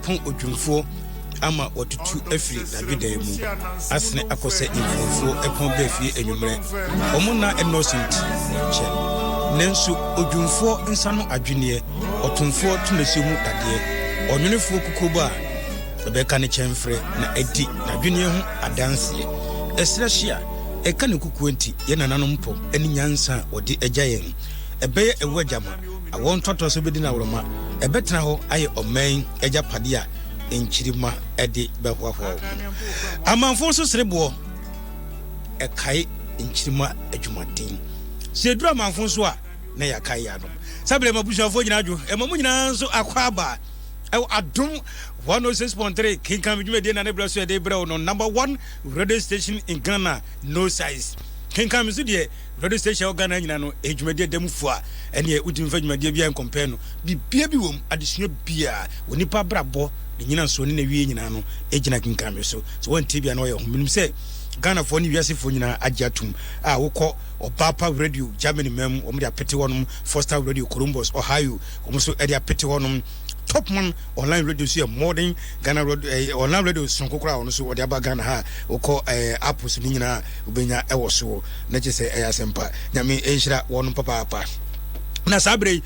Pon odwimfoɔ ama watutu afiri n'adwedaa mu asene akɔ sɛ mfomfoɔ ɛpon bɛ fie anwummerɛ. Wɔn nna nnɔɔso nti, wɔnkyɛ. Nanso odwimfoɔ nsa no adweneɛ, ɔtomfoɔ tomasuo mu dadeɛ, ɔnwonofoɔ kukuobɔ a ɛbɛka ne kyɛmferɛ na adi n'adweneɛ ho adanseɛ. Ɛserɛ hye a ɛka ne kukuo nti, yɛn nananom pɔ ne nyansa a wɔde agya yɛn. Ɛbɛyɛ ɛwɔ agya ma. Awo ntoatoaso bi de Nawroma bɛtena hɔ ayɛ ɔman yi agyapade a nkyirimma de bɛhoahoa wɔn ho. Amanfo nso sere boɔ kae nkyirimma adwumaden. Sɛ ɛduru amanfo nso a, na yɛakae yɛn anom. Saa berɛ ma busuafoɔ nyinaa adwo, ɛma mo nyinaa nso akɔ aba ɛwɔ Adom 106.3 kenkan me dwumadie na ne berɛ so yɛde brɛ wo no number one radio station in Ghana no size kenkan me so deɛ Radio station a ɛwɔ Ghana nyinaa no ɛyɛ dwumadie da mu fua ɛneɛ wotumi fa dwumadie biara nkɔmpɛɛ no bibia bi wɔ mu adesua biara wɔ nipa abrabɔ ne nyinasoɔ ne nawie nyinaa no ɛgyina kenkan me so sɛ wɔntie bia na wɔyɛ ho menim sɛ Ghana foɔ ne wiasefoɔ nyinaa agye atom a wokɔ ɔbaapa radio Germany mam wɔn de apete hɔnom Foster radio Columbus Ohio wɔn nso ɛde apete hɔnom Top man online radio nso yɛ more than Ghana radio ɛɛ eh, online radio sonko koraa ɔno nso ɔde aba Ghana ha wokɔ ɛɛ eh, apps ne nyinaa wobɛnya ɛwɔ soɔ na kyɛ sɛ ɛyɛ asɛmpa nyame nhyira wɔn papaapa na saa berɛ yi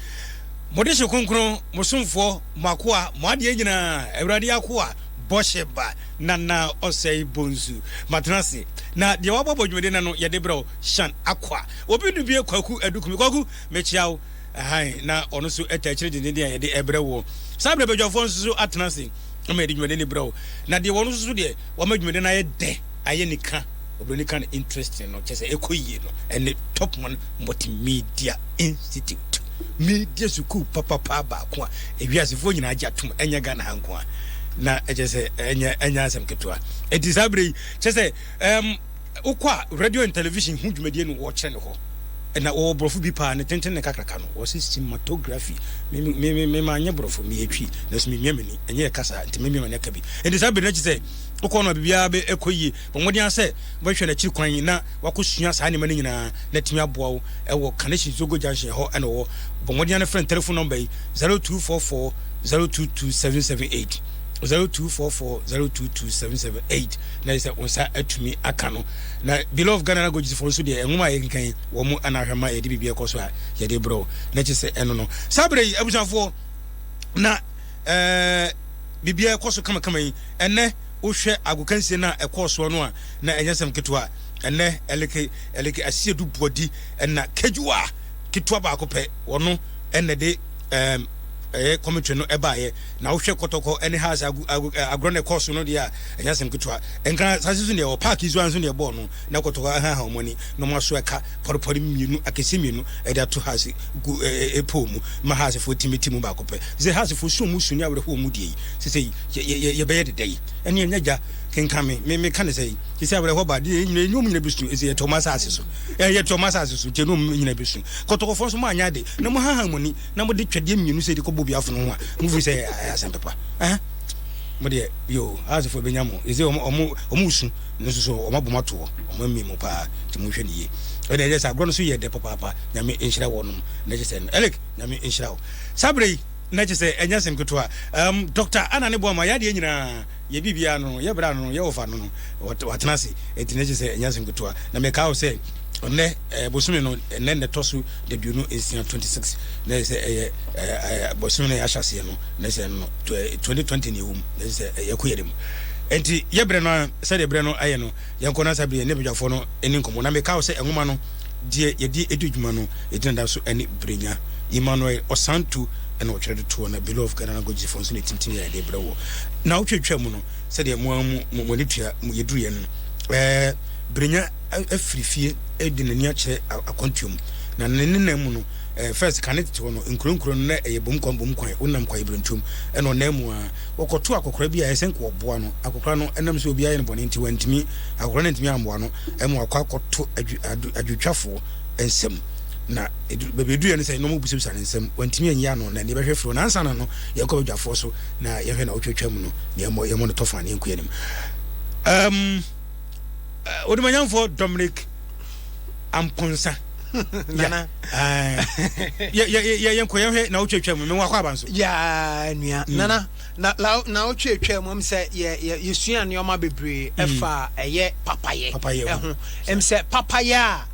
mode hyɛ kronkron mo somfoɔ mo akoa mo adeɛ nyinaa awurade akoa bɔhyɛ ba nana ɔsɛe bonsu matena ase na deɛ wabɔbɔ dwumadi na no yɛde berɛ shan akwa obi no bie kwaku adukumi kwaku mekyia wo Hann, na ɔno nso taa akyiri denneennen a yɛde brɛ woɔ. Saa berɛ badwafoɔ nso so atena ase ma yɛde dwumadie no brɛ wo, na deɛ wɔn nso so deɛ wɔama dwumadie no ayɛ dɛ, ayɛ nika, Oburoni ka no interesting no, kyerɛ sɛ ɛkɔ yie no, ɛne Top One Multimedia Institute, media sukuu papapaa baako a ewiasefoɔ nyinaa agye atom, ɛnyɛ Ghana ha nko a, na ɛkyerɛ sɛ ɛnyɛ ɛnyɛ asɛm ketewa. Ɛti saa berɛ yi, kyerɛ sɛ ɛɛm. Wokɔ a radio and television ho dwumadie no wɔkyerɛ no hɔ na wɔwɔ borɔfo bi paa ne tenten ne kakraka no wɔse cinematography me me me me ma nyɛ borɔfo meyɛ twi na so memia m'ani ɛnyɛ ɛka saa nti memia m'ani aka bi nti saa bere no akyi sɛ wokɔ no a biribiara bɛ ɛkɔ yie bɔ mmɔden ara sɛ wɔhwɛ no akyiri kwan na wakɔsua saa nneɛma no nyinaa na atumi aboa wo ɛwɔ Kanehyi Zogo Junction hɔ ɛna ɔwɔ bɔ mmɔden ara frɛ no telefon nɔmba yi 0244 022778 0244 022778 na ɛsɛ sɛ wo nsa atumi aka no. Na beloved Ghana languages fo nso deɛ nwoma a yɛkenkan yi wɔn mu ana ahwɛ ma yɛde biribi ɛkɔ so a yɛde brɛ wo na kye sɛ ɛno no saa berɛ yi abusuafoɔ na ɛɛ biribiara ɛkɔ so kamakama yi ɛnɛ wohwɛ agokansie no a ɛkɔɔ soɔ no a na ɛnyɛ sɛm ketewa ɛnɛ ɛleke ɛleke asie du boadi ɛna kejuwa ketewa baako pɛ wɔno ɛnɛ de ɛɛ ɛyɛ kɔmitri no ɛbaeɛ Na wohwɛ kɔtɔkɔ ne hearts agorɔ na ɛkɔɔ so no deɛ a, ɛnyɛ asɛm ketewa. Nka asase so deɛ wɔ park yi so ara nso deɛ ɛbɔɔ no, na kɔtɔkɔ ahaha wɔn ani, na wɔaso ɛka pɔrepɔre mmienu, akɛseɛ mmienu de ato hearts gu pole mu ma hearts foɔ tumi te mu baako pɛ. Te sɛ hearts foɔ su a wɔn su ne awerɛhoɔ a wɔn die yi, sesei yɛbɛyɛ de dɛn? Ɛnneɛ nyɛ gya, kenkan me, me, meka ne sɛn? Sesei awerɛhoɔ ba, deɛ ɛnyɛ wɔn nyina bɛsu, ɛfisɛ yɛte wɔn asase so, yɛte wɔn asase so, gye ne wɔn nyina bɛsu. Kɔtɔkɔfoɔ nso moanyɛ ade, na moahaha mo ani. na mo de twɛdeɛ mmienu sɛ de kɔ bobi afono ho a mo firi sɛ ɛyɛ asɛm pepa ɛhɛn mo deɛ yoo aasefo ebenya mo ɛsɛ wɔn wɔn wɔn su no nso so wɔn abom ato hɔ wɔn ammi mo paa nti mo nhwɛ ne yie ɛna ɛyɛ sɛ agorɔ no so yɛ dɛ papaapa nyame nhyira wɔnom na ɛkyɛ sɛ no ɛlek nyame nhyira wo saa bere yi na ɛkyɛ sɛ ɛnyɛ asɛm ketewa um, dɔkta ana ne boa ma yɛ adeɛ nyinaa Yɛ biribiara no no, yɛ bere a no no, yɛ ɔfa no no, watena ase. Enti na ɛkyerɛ sɛ ɛnyɛ asɛm ketewa. Na mekae wo sɛ, nnɛ, ɛɛ, bosome no, ɛnnɛ na ɛtɔ so aduonu nsia, twenty six, na ɛyɛ sɛ ɛyɛ, ɛɛ, ɛɛ, bosome no a yɛahyɛ aseɛ no, na ɛsɛ no no, twenty twenty na ɛwɔ mu, na ɛsɛ sɛ ɛyɛ kɔ yɛn mu. Enti yɛ berɛ no ara, sɛdeɛ berɛ no ayɛ no, yɛnkɔ. Na saa bere yi, yɛne badwafoɔ no nni nkɔmmɔ. Na mekae wo sɛ, nwoma no. Deɛ yɛde adi dwuma no, yɛgyina da so ne Brenya, Emmanuel Ɔsantu na ɔtwerɛ de toɔ na Beloved Ghana Languages foɔ nso na ɛtintim yɛ de brɛ wɔ naawɔtwe atwaa mu no sɛdeɛ mo ara mo mo ani tua mo yɛduruiɛ no. Ɛɛ Brenya afiri fie de n'ani akyerɛ akwantuo mu na ne ne nan mu no ɛɛ first kane tete hɔ no nkuro nkuro no na ɛyɛ bom kwan bom kwan wonam kwaeɛ birentuom ɛna ɔnan mu a wɔkɔto akɔkora bi a ɛsɛ nka wɔboa no akɔkora no ɛnam sɛ obiara yɛ no bɔne nti wantumi akɔkora no antumi ammoa no Ɛma wakɔ akɔto adwowtwafoɔ nsam na edu baabi eduruiɛ no sɛ nneɛma mu bisabisa ne nsam wantumi anyi ano na nea ɛbɛhwɛ firi hɔ na ansa na no yɛkɔ badwafoɔ so na yɛhwɛ na wotwatwa mu no na yɛmmɔ yɛmmɔ no tɔfa na yɛnkɔ anim um, uh, odumanyamfoɔ Dominic Amponsa nana yɛ yɛ yɛ yɛnkɔ yɛhwɛ na wotwatwa mu mewɔ akɔ aba nso ya nua mm. nana Na na naawɔtwe atwa mu, ɛm sɛ yɛ yɛ yɛsua nneɛma bebree ɛfa ɛyɛ papayɛ Papayɛ ho. ɛho. Ɛm sɛ papayɛ a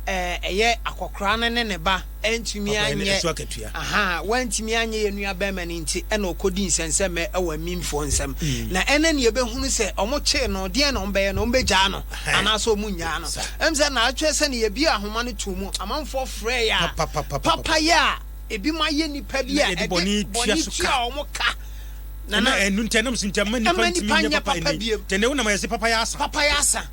ɛɛ ɛyɛ akɔkora no ne ne ba antumi Papayɛ no anyɛ ɛso akatua. ahaa wantumi anyɛ yɛn nua bɛɛma no nti ɛna ɔkɔdii nsɛnsɛmɛ ɛwɔ amimfoɔ nsam. Na ɛnɛ neɛ yɛbɛhunu sɛ ɔmo kyee no deɛn na ɔmo bɛyɛ no? Ɔmo bɛgyaa no Ɛhɛn. anaa sɛ ɔmo nnyaa no? Saa. Ɛm sɛ naawɔtwe sɛ neɛ yɛbuee ahoma no too mu amanfoɔ frɛɛ yɛ a Papapapapapa. papayɛ a Ebinom yɛ nnipa bi a ɛde bɔne tua wɔn ka. Na na ɛno nti ɛnam so nti ɛma nnipa ntumi nyɛ papa bio. Tɛnɛ wo na ma yɛsi papa yɛ asa. Papa yɛ asa.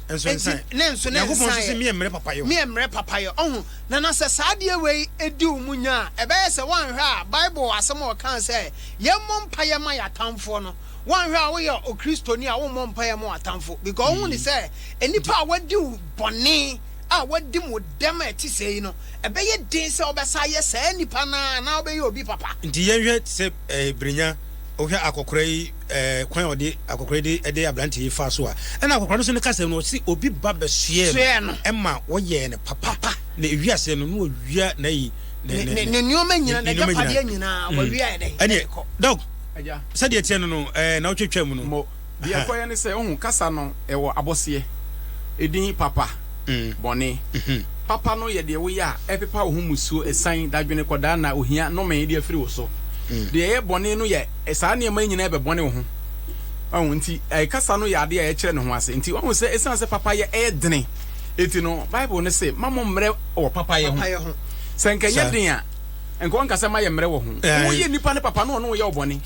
Nso nsan. Ne nso ne nsan. Nyankopɔn nso sɛ mi mmerɛ papa yɛ. Mi mmerɛ papa yɛ. Ɔho na na sɛ saa adeɛ wei edi wo mu nya a ɛbɛyɛ sɛ wɔanhwɛ a Bible asɛm a ɔkaa sɛ yɛmmɔ mpaeɛ ma yɛatamfoɔ no wɔanhwɛ a woyɛ Okristoni a wommɔ mpaeɛ ma w'atamfo because wohu ne sɛ nnipa a wadi wo bɔne a wadi mo dɛm a ɛte sɛɛ no, ɛbɛyɛ den sɛ wobɛsan ayɛ saa nipa no ara anaa wobɛyɛ obi papa. Nti yɛnhwɛ te sɛ eh, Brenya, wohwɛ akɔkora yi eh, kwan a ɔde akɔkora yi de ɛde aberante yi faa so a, ɛna akɔkora no nso ne kasa yi no, ɔse obi ba bɛsoɛɛ no, Soɛɛ no. ɛma wɔyɛɛ no papa, Papa. na ewi aseɛ no na wɔwia n'ayi, Ne, ne, ne nneɛma nyinaa, ne nneɛma n'agyapadeɛ nyinaa. nyinaa, wɔwiaɛ dɛn? Ɛneɛ, Ɛkɔ. Doc, Agya. sɛdeɛ ɛteɛ no no, eh, na wotwatwaa mu no, Mo. Deɛ ɛkɔyɛ ne sɛ, wohu, kasa no, ɛwɔ abɔseɛ, edin, papa, bɔne. Papa no yɛ deɛ woyɛ a ɛpepa wo ho mmusuo, asiane, dadwene, kɔdaanna, ohia, nnome de afiri wo so. Deɛ ɛyɛ bɔne no yɛ saa nneɛma yi nyinaa bɛbɔne wo ho. Wahu? Enti kasa no yɛ adeɛ a ɛkyerɛ ne ho ase. Enti wahu sɛ ɛsiane sɛ papayɛ yɛ dene enti no, Bible no se, Mma mo mmrɛ wɔ papayɛ ho. Sɛ anka ɛnyɛ den a, anka wɔnka sɛ, Mma yɛmmrɛ wɔ ho. Woyɛ nnipa no papa na wɔne wo yɛ wo bɔne.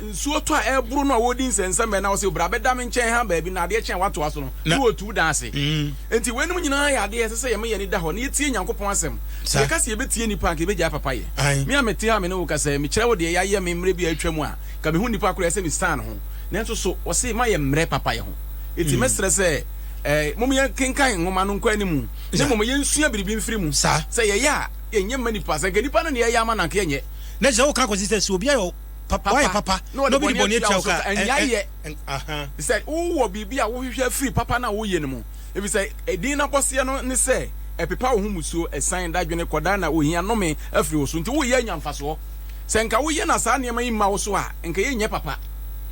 nsuo tɔ a ɛboro no a wɔdi nsɛnsɛmɛ na wɔsɛ bra bɛda me nkyɛn ha baabi na adeɛ kyɛn watoa so no na wɔtu da ase mm. nti wɔn anim nyinaa yɛ adeɛ ɛsɛ sɛ yɛma yɛn da hɔ na yɛtie nyankopɔn asɛm sɛ yɛka sɛ yɛbɛtie nnipa anka yɛbɛgyae papa yɛ me a mete ha me ne wo ka sɛ mekyerɛ wo deɛ yɛayɛ me mmerɛ bi a atwa mu a ka mehu nnipa korɔ ɛsɛ me san ho nanso so wɔse ma yɛ mmerɛ papa yɛ ho ɛti mm. mɛserɛ sɛ eh, mom yɛnkenkan nwoma no nkɔ animu na mmom yɛnsua biribi mfiri mu sɛ yɛyɛ a yɛnyɛ mma nipa sɛ nka nipa no ne yɛyɛ ama nanka yɛnyɛ Na ɛsɛ sɛ woka kɔsi sɛ sɛ obi ayɛ wo papa, wayɛ papa na obi de bɔne atua wo ka a, ɛnyɛ yɛ. Sɛ wowɔ biribi a wohwehwɛ afiri papa no a woyɛ no mu, efisɛ edin no abɔseɛ no ne sɛ ɛpepa wo ho mmusuo, asiane, dadwene, kɔdaanna, ohia, nnome afiri wo so, nti woyɛ anya mfasoɔ. Sɛ nka woyɛ na saa nneɛma yi mma wo so a, nka yɛnyɛ papa.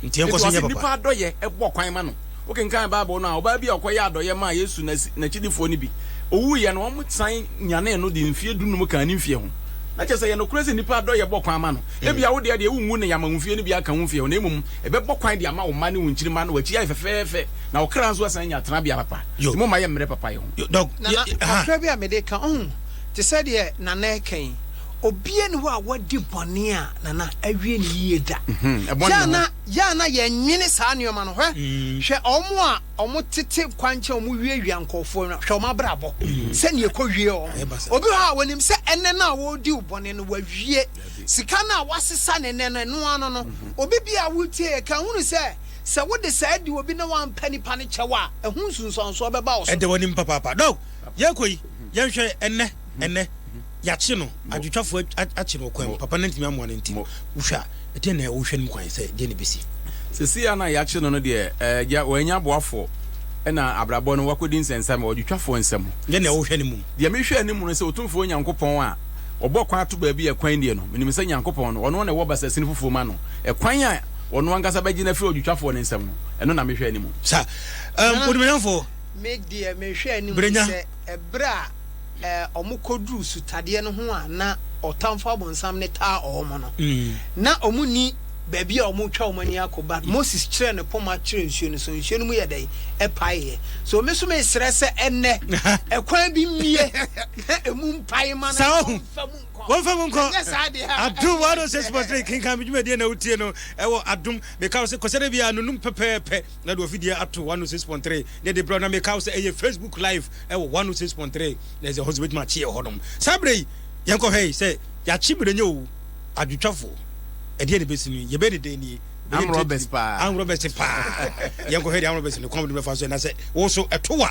Nti yɛnkɔ so nyɛ papa. Nti ɔse nnipa adɔyɛ bɔ kwan ma no. Wokenkan Bible no a, ɔbaa bi a ɔkɔyɛɛ adɔeɛ maa Yesu na n'akyidifoɔ no bi, ɔwuiɛ no, wɔsan nyanee no de mfeɛ dunum kaa ne mfeɛ ho. Na kyerɛ sɛ, ɛyɛ nokorɛ sɛ nnipa adɔeɛ bɔ kwan ma no. Ebia wo deɛ deɛ, wonwu nnɛn ama wo mfeɛ no bi aka wo mfeɛ ho, na mmom ɛbɛbɔ kwan de ama wo mma ne wo nkyirimma na w'akyi ayɛ fɛfɛɛfɛ, na wo kra nso asan anya tenabea papa. Enti momma yɛmmrɛ papayɛ ho. Na, na kakra bi a mede reka, ɔho, te sɛ deɛ Nana reka yi, obiara nni hɔ a wadi bɔne a, Nana, awie no yie da. Ɛbɔne ho. Yɛ a na yɛnnwene saa nnoɔma no hwɛ, hwɛ wɔn a wɔtete kwankyɛn a wɔwiawia nkurɔfoɔ no, hwɛ wɔn abrabɔ sɛdeɛ ɛkɔwie wɔn. Obi hɔ a wɔnim sɛ ɛnnɛ no a wɔredi wo bɔne no wawie, sika no a woasesa no ɛnnɛ no ɛno ara no no. Obi deɛ a woretie yɛ kan hunu sɛ sɛ wode saa di obi na woampɛ nipa no kyɛw a ɛho nsunsuansoɔ bɛba wo so. Ɛda w'anim papaapa. Now, yɛrekɔ yi, yɛnhwɛ ɛnnɛ. ɛnɛ yɛakye no adwotwafoɔ akye no ɔkwan mu papa no ntumi amoa no nti wohwɛ a ɛdeɛ na wohwɛ no mu kwan sɛ deɛ ne bɛsi sɛsi a na yɛakye no no deɛ ɛgya wɔanya aboafoɔ ɛna abrabɔ no wakɔdi nsɛnsɛm ɔdwotwafoɔ nsɛm deɛ na wohwɛ no mu deɛ mehwɛ anim no sɛ ɔtumfoɔ nyankopɔn a ɔbɔ kwan ato baabi a kwan deɛ no menim sɛ nyankopɔn no ɔno na ɛwɔ basasini foforɔ ma no ɛkwan a ɔno ankasa bɛgye no afiri ɔdwotwafoɔ no nsɛm no ɛno na mehwɛ anim sa um, odumanyafoɔ berɛ nya Bere a wɔkɔduruu sutadeɛ no ho a na ɔtamfo abonsam no taa wɔn no, na wɔnni baabi a wɔretwa wɔn ani akɔ, but Moses kyerɛɛ ne poma kyerɛɛ nsuo no so, nsuo no mu yɛɛ dɛn? Ɛpaeeɛ. So me nso mesrɛ sɛ ɛnnɛ, ɛkwan bi mmue na ɛmu mpae ma na wɔmfa mu nkɔ. Wɔmfa mu nkɔ. Ɛnyɛ saa deɛ a. Adum 106.3 kenkan me dwumadie na wotie no ɛwɔ adum. Meka wo sɛ kɔsɛ da biara no num pɛpɛɛpɛ. na de ɔfidie ato 106.3 na de brɛ na meka wo sɛ ɛyɛ facebook live ɛwɔ 106.3 na ɛsɛ hɔ sɛ wobɛtumi akye ɛhɔ nom saa berɛ yi yɛnkɔhwɛ yi sɛ yɛakye mmerɛnyɛ o adwotwafoɔ ɛdeɛ ne bɛsi no yɛbɛ ne dɛn nie amrɔbɛs paa amrɔbɛs paa yɛnkɔhwɛ deɛ amrɔbɛs no kɔm de bɛfa so ɛnasɛ wo so ɛtowa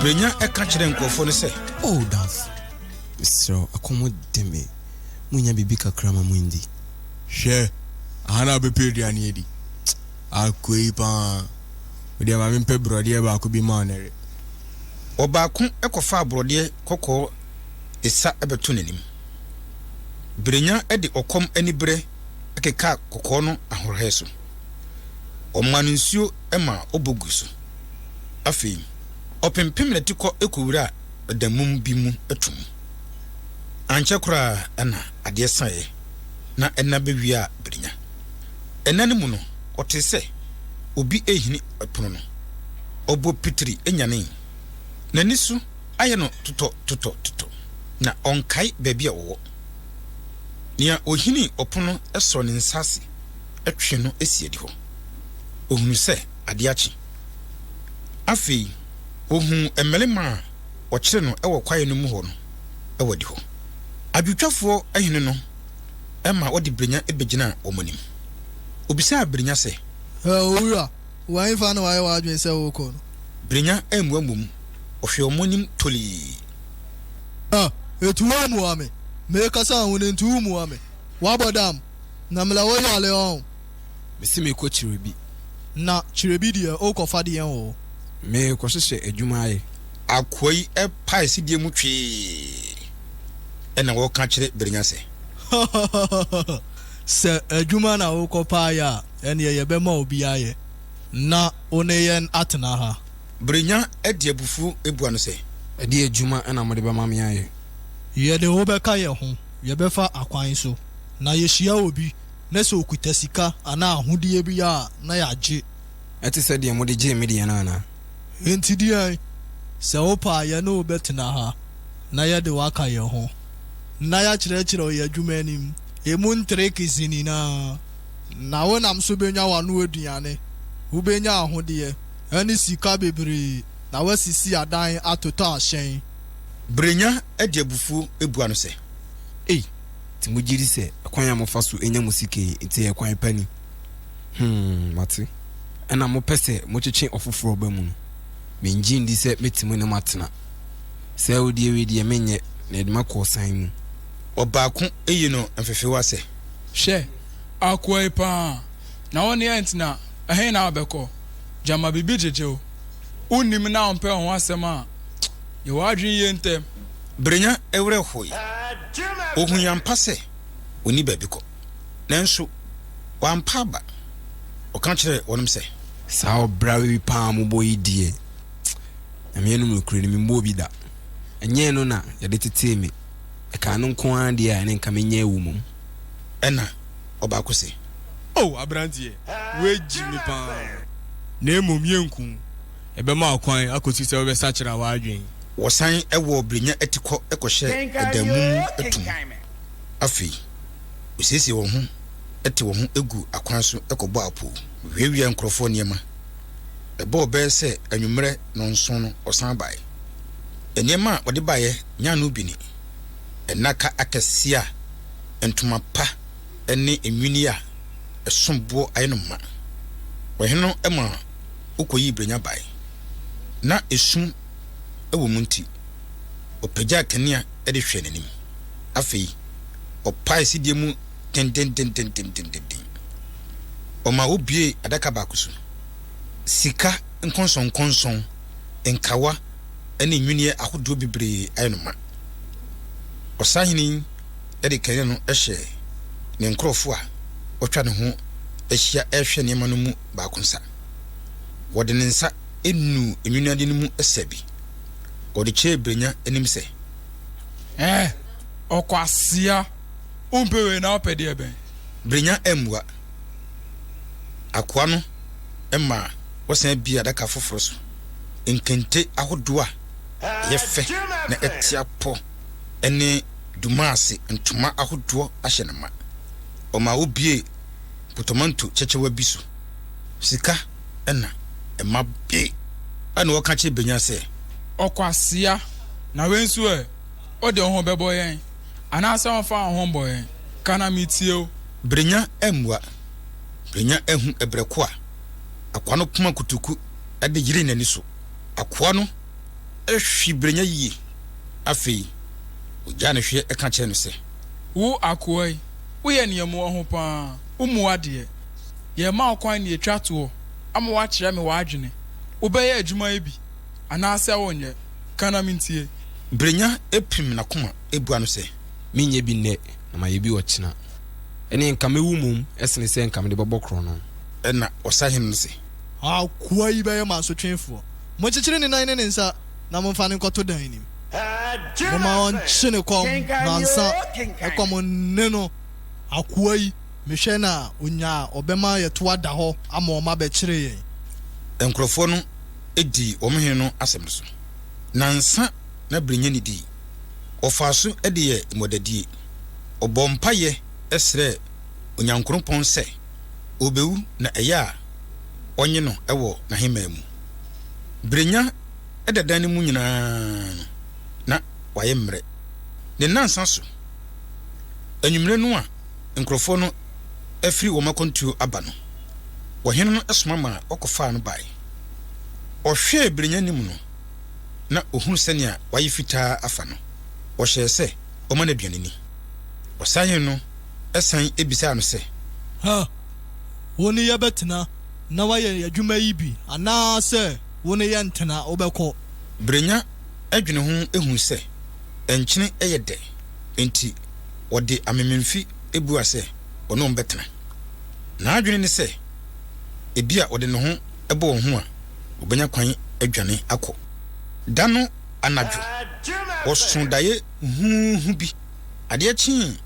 Brenya ɛka kyerɛ nkurɔfoɔ no sɛ. O oh, damfo, mesrɛ wo, ɛkɔm de me, monya biribi kakra ma mondi. Hwɛ, aha na wobɛpɛ aduane adi. Akoi paa, wodeɛ ma mempɛ borɔdeɛ baako bi ma ɔnɛre. Ɔbaako kɔfaa borɔdeɛ kɔkɔɔ esa bɛto n'anim. Berenya de ɔkɔm aniberɛ kekaa kɔkɔɔ no ahorɔhɛ so. Wɔmaa no nsuo maa ɔbɔ gui so. Afei, ɔpempem n'atikɔ kɔwuraa ɔdammum bi mu to mu. Ankyɛ koraa na adeɛ saeɛ, na ɛna bɛwiaa Berenya. Ɛna no mu no, ɔtee sɛ obi rehini pono no. Ɔbɔ pitiri nyanee. N'ani so ayɛ no totɔtotɔtotɔ, na ɔnkae baabi a ɔwɔ. Nea ohini ɔpon no sɔ ne nsa ase twe no si adihɔ. Ohunu sɛ ade akye. Afei ohu mmarima a wɔkyere no wɔ kwae no mu hɔ no wɔ adihɔ. Adwowtwafoɔ hene no ma wɔde Brenya bɛgyinaa wɔn anim. Obisaa Brenya sɛ. Owura, Wo ahenfa na wayɛ w'adwene sɛ wokɔ no. Brenya ammua mmom, ɔhwɛɛ wɔn anim tolii. Na etu wo mmoa me. Merekasa wo ho no ntu wo mmoa me. Wabɔ dam, na mela wo yale ɔn. Mese merekɔ kyerɛ bi. Na kyerɛ bi deɛ wokɔfa deɛn wɔ hɔ? Merekɔhyehyɛ adwuma ayɛ. Akoa yi pae sedie mu twee. Ɛna ɔreka kyerɛ Brenya sɛ. Hahahaha, sɛ adwuma na wokɔpaeɛ a. Ɛnneɛ yɛbɛma obi ayɛ na wo ne yɛn atena ha. Brenya de abufuo bua no sɛ. Ɛdeɛn adwuma na mode bɛma me ayɛ? Yɛne wo bɛka yɛn ho, yɛbɛfa akwan so, na yɛhyia obi na sɛ ɔkuta sika anaa ahodeɛ bi a na yɛagye. Ɛte sɛ deɛ mode gyee me deɛ no anaa? Enti deɛn? Sɛ wopɛ a yɛne wo bɛtena ha na yɛde wo aka yɛn ho, na yɛakyerɛkyerɛ wo yɛn adwuma anim, ɛmu ntricks nyinaa. Na wonam so bɛnya w'ano aduane, wobɛnya ahodeɛ ne sika bebree, na woasisi adan atotɔ ahyɛn. Berenya de abufuo bua no sɛ. Ei, nti mogye di sɛ ɛkwan a mofa so nya mo sika yi nti ɛyɛ kwan pa ni? Hmm, mate. Ɛnna mopɛ sɛ motwetwe ɔfoforɔ ba mu no, mennye nni sɛ mɛte mu ne mo atena. Sɛ awodeɛ wei deɛ menyɛ, na yɛde mo akɔ ɔsan mu. Ɔbaako yi no mfefewa sɛ. Hwɛ, akoa yi paa, na wo ne yɛn tena, ɛhe na wobɛkɔ? Gyama biribi gyegye wo. Wonnim na wompɛ wo ho asɛm a, yɛ w'adwene yie ntɛm. Brenya werɛ hoe. Ohui ampa sɛ onni baabi kɔ, nanso wampa aba. Ɔka kyerɛɛ wɔnom sɛ. Saa ɔbrawe yi paa a mobɔ yi deɛ, Nyame anom nokorɛ ni, memmɔɔ bi da. Ɛnyɛɛ no na yɛde tetee me. Ɛka ɛno nko ara deɛ a, ɛne nka menya awu mmom. Ɛna ɔbaako se. Oh, aberanteɛ, woagyi me pa ara. Na mmom yɛnku wo. Yɛbɛma wo kwan akɔsi sɛ wobɛsakyera w'adwene. Wɔsan wɔ Brenya atikɔ kɔhyɛ dan mu to mu. Afei, wɔsiesie wɔn ho te wɔn ho gu akwan so kɔbɔ apoo. Wɔwiawiaa nkurɔfoɔ nneɛma. Ɛbɔɔ bɛyɛ sɛ anwummerɛ nnɔnson no, wɔsan bae. Nneɛma a wɔde baeɛ nyaa no bi ni, nnaka akɛseɛ a ntoma pa ne nnwinneɛ a ɛsom boɔ ayɛ no ma. Ɔhene no ma wɔkɔyii berɛnya bae, na esum wɔ mu nti, ɔpagyaa kanea de hwɛɛ n'anim. Afei ɔpaee sedie mu dendendendendendendennden. Ɔma wɔbuee adaka baako so. Sika nkɔnsɔnkɔnsɔn. nkawa ne nnwinneɛ ahodoɔ bebree ayɛ no ma. Ɔsahene yi de kane no hyɛɛ ne nkurɔfoɔ a wɔatwa ne ho ahyia rehwɛ nneɛma no mu baako nsa. Wɔde ne nsa nuu nnwinneadeɛ no mu sɛ bi. Ɔde kyerɛɛ Brenya anim sɛ. Ɛɛ, ɔkwasea! Wompɛ wei na wopɛ deɛ bɛn? Brenya ammua. Akoa no ma wɔsan bue adaka foforo so. Nkente ahodoɔ a ɛyɛ fɛ na ɛte apɔ ne Dumasi ntoma ahodoɔ ahyɛ no ma. Ɔma wobuee potomanto kyɛkyɛwa bi so. Sika na ɛma bue. Ɛnna ɔka kyerɛ Benya sɛ. Ɔkwasea! Na wei nso ɛ? Wode wo ho bɛbɔ yɛn? Anaasɛ womfa wo ho mmɔ yɛn? Ka na metie wo. Brenya ammua. Brenya ahu ɛberɛ ko a akoa no poma kutuku de yeree n'ani so. Akoa no hwe Brenya yie. Afei, ɔgyaa no hweɛ ka kyerɛɛ no sɛ. Wo akoa yi, woyɛ nneɛmoa ho pa ara. Wommua deɛ. Yɛrema wo kwan na yɛatwa toɔ ama woakyerɛ me w'adwene. Wobɛyɛ adwuma yi bi anaasɛ wonyɛ? Ka na mentie. Brenya pirim n'akoma bua no sɛ. Menyɛ bi nnɛ, na mayɛ bi ɔkyena. Ɛnneɛ nka mɛwu mmom sene sɛ nka mede bɛbɔ korɔno. Ɛnna ɔsahene no se. Akoa yi bɛyɛ mo asotwefoɔ. Monkyekyere ne nan ne ne nsa na momfa no nkɔto dan no mu. Momma ɔnkye ne kɔm nnansa na kɔm nne no. Akoa yi, mehwɛ na ɔnya a ɔbɛma yɛto ada hɔ ama wɔn abɛkyere yɛn. Nkurɔfoɔ no dii wɔn hene no asɛm no so. Nnansa na berɛ nya nnidii. wɔfaa so de yɛɛ mmɔdadie. Ɔbɔɔ mpaeɛ srɛɛ Onyankrompɔn sɛ ɔbɛwu na ɛyɛ a ɔnye no wɔ n'ahemman mu. Brenya da dan no mu nyinaa no, na wayɛ mmerɛ. Ne nnansa so anwummerɛ no a nkurɔfoɔ no afiri wɔn akwantuo aba no, ɔhene no soma maa wɔkɔfaa no baeɛ. Ɔhwɛɛ Brenya anim no, na ohuu sɛnea wayɛ fitaa afa no, ɔhyɛɛ sɛ wɔmma no aduan nni. Ɔsan yɛn no san bisaa no sɛ. Ha, wo ne yɛbɛtena na woayɛ adwuma yi bi anaasɛ wo ne yɛntena, wobɛkɔ? Berenya dwene ho hui sɛ nkyene yɛ dɛ, enti ɔde amememfi buaa sɛ ɔne wɔn bɛtena. N'adwene ne sɛ ebia ɔde ne ho bɔ wɔn ho a, wɔbɛnya kwan adwane akɔ. Da no anadwo, wɔsoo daeɛ huuhu bi. Adeɛ kyee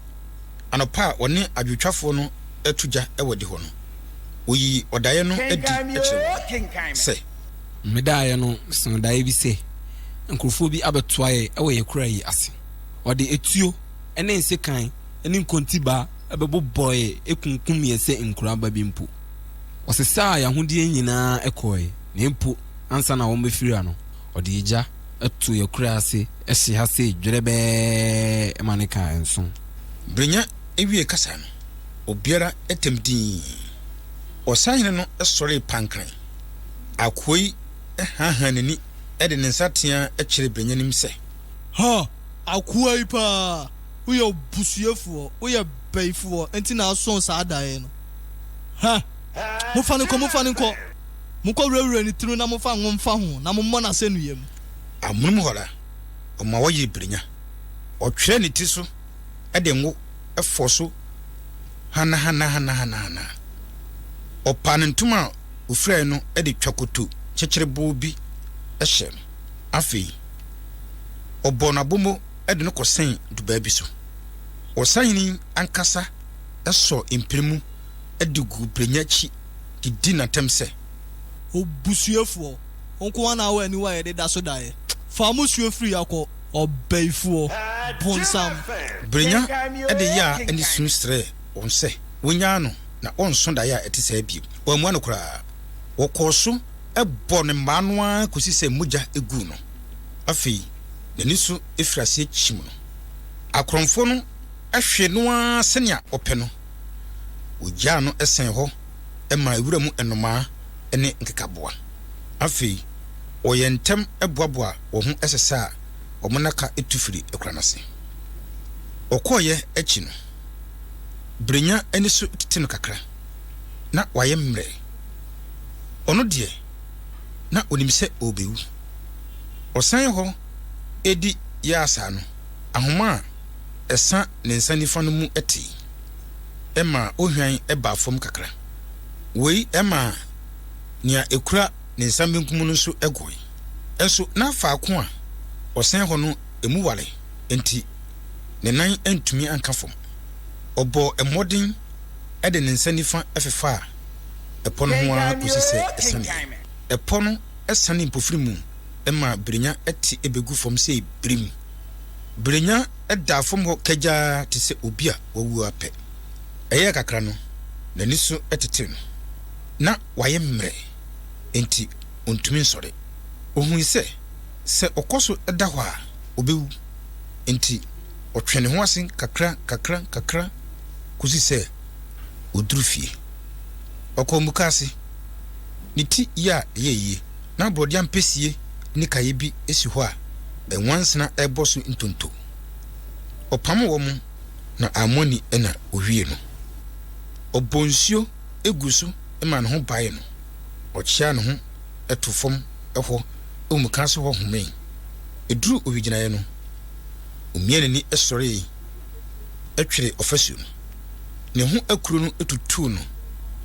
anɔpa a wɔne adwotwafoɔ no reto gya wɔ adihɔ no, wɔyii ɔdaeɛ no adi kyerɛɛ wɔn sɛ. Me daeɛ no, mesoo daeɛ bi sɛ nkurɔfoɔ bi abɛtoa yɛn wɔ yɛn kura yi ase. Wɔde atuo ne nsekan ne nkontibaa bɛbobɔɔ yɛn kunkum yɛn sɛ nkuraa ba bi mpo. Ɔsesaa yɛn ahodeɛ nyinaa kɔɔe, na mpo ansa na wɔmmɛfira no, ɔde egya too yɛn kura ase hye ha sei dwerɛbɛɛ ma ne kaa nso. Brenya wiee kasa no, obiara tam dii. Ɔsahene no sɔree pankran. Akooi haahaa n'ani de ne nsa teaa kyerɛɛ Brenya anim sɛ. Ha! Akooi paa! Woyɛ obusuafoɔ, woyɛ bayifoɔ nti na asɔn saa daeɛ no. Hɛ! Momfa no nkɔ, momfa no nkɔ! Monkɔwurawura ne tiri mu na momfa ngo mfa ho na mommɔ no asɛnnua mu. Amonom hɔ ara, ɔma wɔyere birenya. Ɔtwerɛ ne tiri so de ngo fɔ so hanahanahanahana. Ɔpa ne ntoma a ɔfirae no de twa koto kyekyereboɔ bi hyɛ. Afei, ɔbɔ no abomo de no kɔsɛn dubaa bi so. Ɔsahene ankasa! sɔ mpire mu de gu brɛnya akyi de di no atɛm sɛ. Obusuafoɔ, wo nko ara na wɔ aniwa a yɛde da so daeɛ. Fa mo suo firi ha kɔ, ɔbaifoɔ bonsam. Brɛnya de yea ne su srɛɛ wɔn sɛ wɔnnyaa no na ɔnnsɔ daeɛ a ɛte saa bio. Wɔammua no koraa. Wɔkɔɔ so bɔɔ no mmaa no ara kɔsi sɛ mogya guu no. Afei n'ani so firi aseɛ kyim no. Akorɔmfoɔ no. hwee no ara sɛnea ɔpɛ no. Ogyaa no sɛn hɔ maa wuram nnomaa ne nkekaboa. Afei wɔyɛ ntɛm boaboa wɔn ho sesa a wɔn nnaka tu firi akuraa no ase. Ɔkɔeɛ akyi no, Brenya ani so tete no kakra. Ná wayɛ mmerɛ. Ɔno deɛ, na ɔnim sɛ ɔrebɛwu. Ɔsan hɔ di Yaasa no ahoma a Ɛsa ne nsa nifa no mu tee. Ɛmaa ohwan baa fam kakra. Wei maa nea ekura ne nsa benkum no nso goe. Nso na faako a ɔsɛn hɔ no emu ware enti ne nan antumi anka fam. Ɔbɔɔ mmɔden de ne nsa nifa fefaa ɛpɔ no ho ara kosi sɛ ɛsanee. Ɛpɔ no sanee mpofirim maa Birenya te begu fam sɛ birim. Berenya daa fam hɔ kagyaa te sɛ obi a wawu ara pɛ. Ɛyɛɛ kakra no, n'ani so tetee no. Ná wayɛ mmerɛ, enti ontumi nsɔre. Ohui sɛ, sɛ ɔkɔ so da hɔ a, obewu. Enti ɔtwee ne ho ase kakra, kakra, kakra kosii sɛ oduruu fie. Ɔkɔɔ mukaase, ne ti yea yɛɛ yie. Ná borɔde ampesie ne kaeɛ bi si hɔ a nwansena rebɔ so ntonto. Ɔpam wɔn na Ammonni na ɔwiee no. Ɔbɔɔ nsuo guu so maa ne ho baee no, ɔkyeaa ne ho too fam hɔ wɔ mukaase hɔ homee. Ɛduruu owigyinaeɛ no, ɔmiaa n'ani sɔree tweree ɔfasuo no. Ne ho akuro no tutuu no,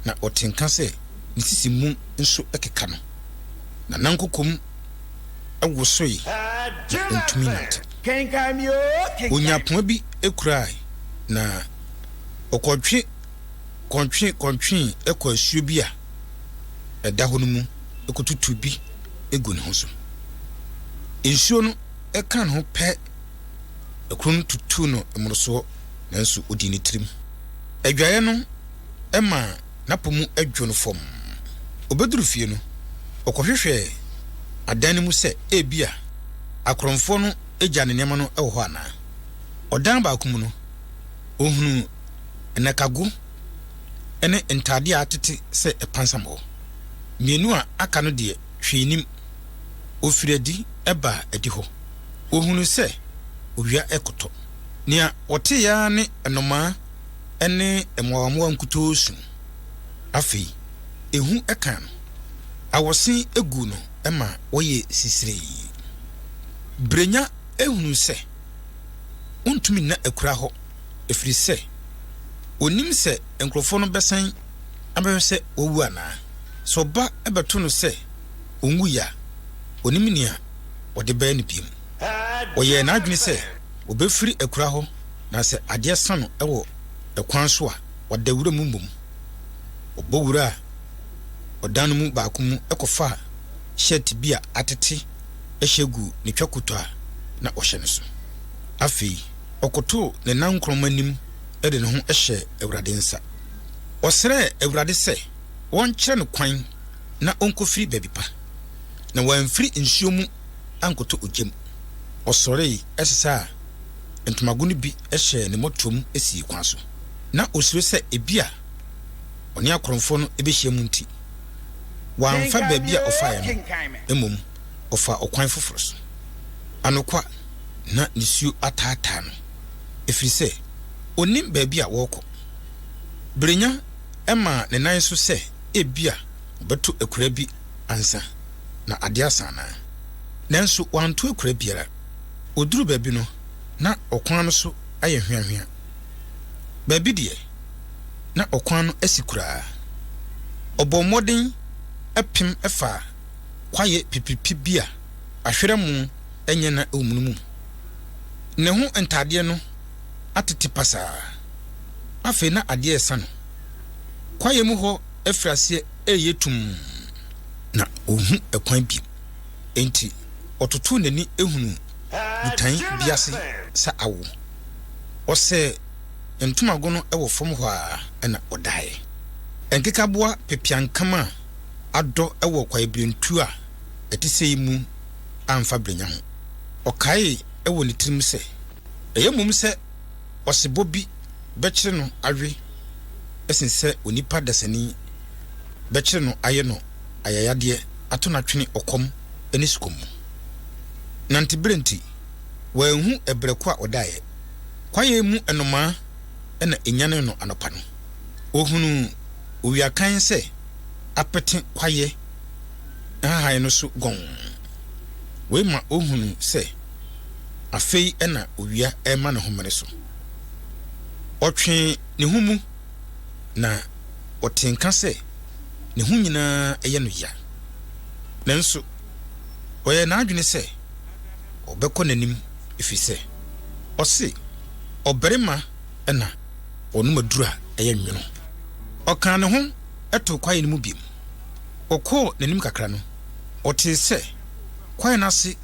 na ɔtee nka sɛ. ne sisi mu nso keka no, na n'ankokom wosoe na ontumi nnantew. Onyaa poma bi kurae, na ɔkɔtwe kɔntwe kɔntwee kɔɔ asuo bi a ɛda hɔ no mu kotutuu bi guu ne ho so. Nsuo no kaa ne ho pɛ, akuru no tutuu no mmorosoɔ, nanso odii ne tirim. Adwaeɛ no maa n'apo mu dwo no fam. Obeduru fie no, ɔkɔhwehwɛ adan no mu sɛ ebia akorɔmfoɔ no agya ne nneɛma no wɔ hɔ anaa. Ɔdan baako mu no, ohunu nnakago ne ntaadeɛ a atete sɛ pansam wɔ. Mmienu a aka no deɛ, hwee nnim. Ofiri adi baa adihɔ. Ohunuu sɛ owia rekɔtɔ. Nea ɔtee ara ne nnomaa ne mmoawammoawa nkutoo su. Afei ehu ka no. Awɔse gu no ma ɔyɛ sisiree. Brenya hunu sɛ ontumi nna akura hɔ ɛfiri sɛ ɔnnim sɛ nkurɔfoɔ no bɛsan abɛhwɛ sɛ wawu anaa. Sɛ ɔba bɛto no sɛ ɔnwuiɛ a, ɔnnim nea ɔde bɛyɛ no bio. Ɔyɛɛ n'adwene sɛ obefiri akuraa hɔ na sɛ adeɛ sa no wɔ ɛkwan so a, wada wura mu mmom. Ɔbɔ wuraa ɔdan no mu baako mu kɔfaa shirt bi a atete hyɛ guu ne twa koto a na ɔhyɛ no so. Afei ɔkotoo ne nankorɔma anim de ne ho hyɛɛ Awurade nsa. Ɔsrɛɛ Awurade sɛ wɔnkyerɛ no kwan na ɔnkɔfiri baabi pa, na wamfiri nsuo mu ankɔtɔ ogya mu. Ɔsɔree, sesaa ntomago no bi hyɛɛ ne mmɔtoam sii kwan so. Ná osuro sɛ ebia ɔne akorɔmfo no behyiam nti, wamfa baabi a ɔfae no, mmom ɔfaa ɔkwan foforo so. Anokwa, na nisuo ataataa no, ɛfiri sɛ ɔnnim baabi a ɔrekɔ. Berenya maa ne nan so sɛ ebia ɔbɛto akuraa bi ansa. na ade asa anaa? Nanso wanto akura biara. Oduruu baabi no, na ɔkwan no so ayɛ hweahwea. Baabi deɛ, na ɔkwan no asi koraa. Ɔbɔɔ mmɔden pem faa kwaeɛ pipiripi bi a ahwerɛ mo nyɛ na ɛwɔ mu no mu. Ne ho ntadeɛ no atete pasaa. Afei na adeɛ resa no. Kwaeɛ mu hɔ firi aseɛ reyɛ tumm. na onhu kwan bi. Enti ɔtotow n'ani hunu botan bi ase sɛ awo. Ɔsɛɛ ntomago no wɔ fam hɔ ara na ɔdae. Nkekaboa pepeankam a adɔ wɔ kwaebirentuo a ɛte sei mu amfa berenya ho. Ɔkaee wɔ ne tirim sɛ, Ɛyɛ mmom sɛ ɔsebɔ bi bɛkyere no awe sen sɛ onipa dasani bɛkyere no ayɛ no ayayadeɛ ato no atwene ɔkɔm ne sukɔm mu. Nanteberɛ nti, wanhu ɛberɛ ko a ɔdaeɛ. Kwaeɛ mu nnomaa na ɛnyanee no anɔpa no. Ɔhunuu owia kann sɛ apete kwaeɛ nhahan no so gɔnn. Wei ma ɔhunuu sɛ. Afei na owia rema ne homene so. Ɔtwee ne ho mu, na ɔtee nka sɛ ne ho nyinaa yɛ no ya. Nanso ɔyɛɛ n'adwene sɛ ɔbɛkɔ n'anim efisɛ ɔse, Ɔbarima na ɔnom aduru a ɛyɛ nwono. Ɔkaa ne ho too kwae no mu bio. Ɔkɔɔ n'anim kakra no, ɔtee sɛ kwae no ase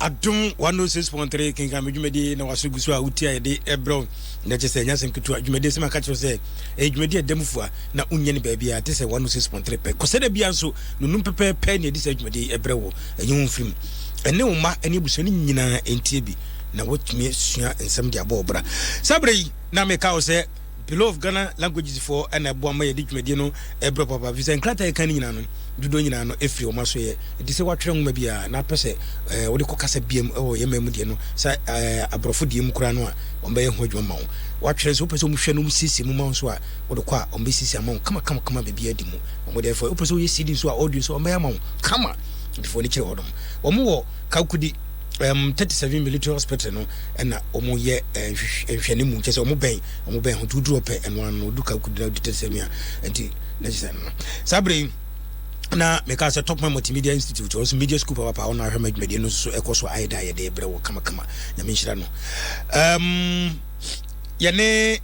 adom 106.3 kenkan me dwumadi na waso gu so a wotie a yɛde ɛbrɛ wo na kyɛ sɛ ɛnyɛ asɛm ketewa dwumadi asɛm aka kyerɛ sɛ ɛyɛ dwumadi a ɛda mu fua na wonyɛ no baabi a te sɛ 106.3 pɛ kɔsɛ da bia nso nonum pɛpɛɛpɛ ne ɛde saa dwumadi ɛbrɛ wo ɛnyɛ wo mfirim ɛne wo mma ɛne abusua no nyinaa ɛntie bi na woatumi sua nsɛm de abɔ ɔbra saa berɛ yi na meka wo sɛ Bureau of Ghana Languages foɔ na ɛboa ma yɛde dwumadie no brɛ papaapa firi sɛ nkrataa a yɛka no nyinaa no dodoɔ nyinaa no firi wɔn aso yɛ ɛti sɛ watwerɛ nwoma bi a na apɛ sɛ eh, wode kɔ kasa biam wɔ yɛn man mu deɛ no sɛ eh, aborɔfo deɛ mu koraa no a wɔn bɛyɛ ho adwuma ma wo watwerɛ nso wopɛ sɛ wɔhwɛ no wɔsiesie mu ma wo nso a wode kɔ a wɔn bɛsiesie ama wo kama kama kama baabi adi mu wɔn deɛ fɔ wopɛ sɛ woyɛ CD nso a audio nso wɔn bɛyɛ ama wo kama defoɔ no kyerɛ hɔ nom wɔn wɔ kakudi um, 37 military hospital no ɛna ɔmo yɛ eh, nhwɛ ne mu kyɛ sɛ ɔmo bɛn ɔmo bɛn ho nti woduru ɔpɛ ɛno ano odu ka kudu na odu 37 a nti na kyɛ sɛ no saa bere yi na meka sɛ top man multimedia institute ɔno so media school papapa ɔno ahwɛ madwumadie no nso ɛkɔ so ayɛ da yɛde brɛ wɔ kamakama nyame nhyira no um, yɛne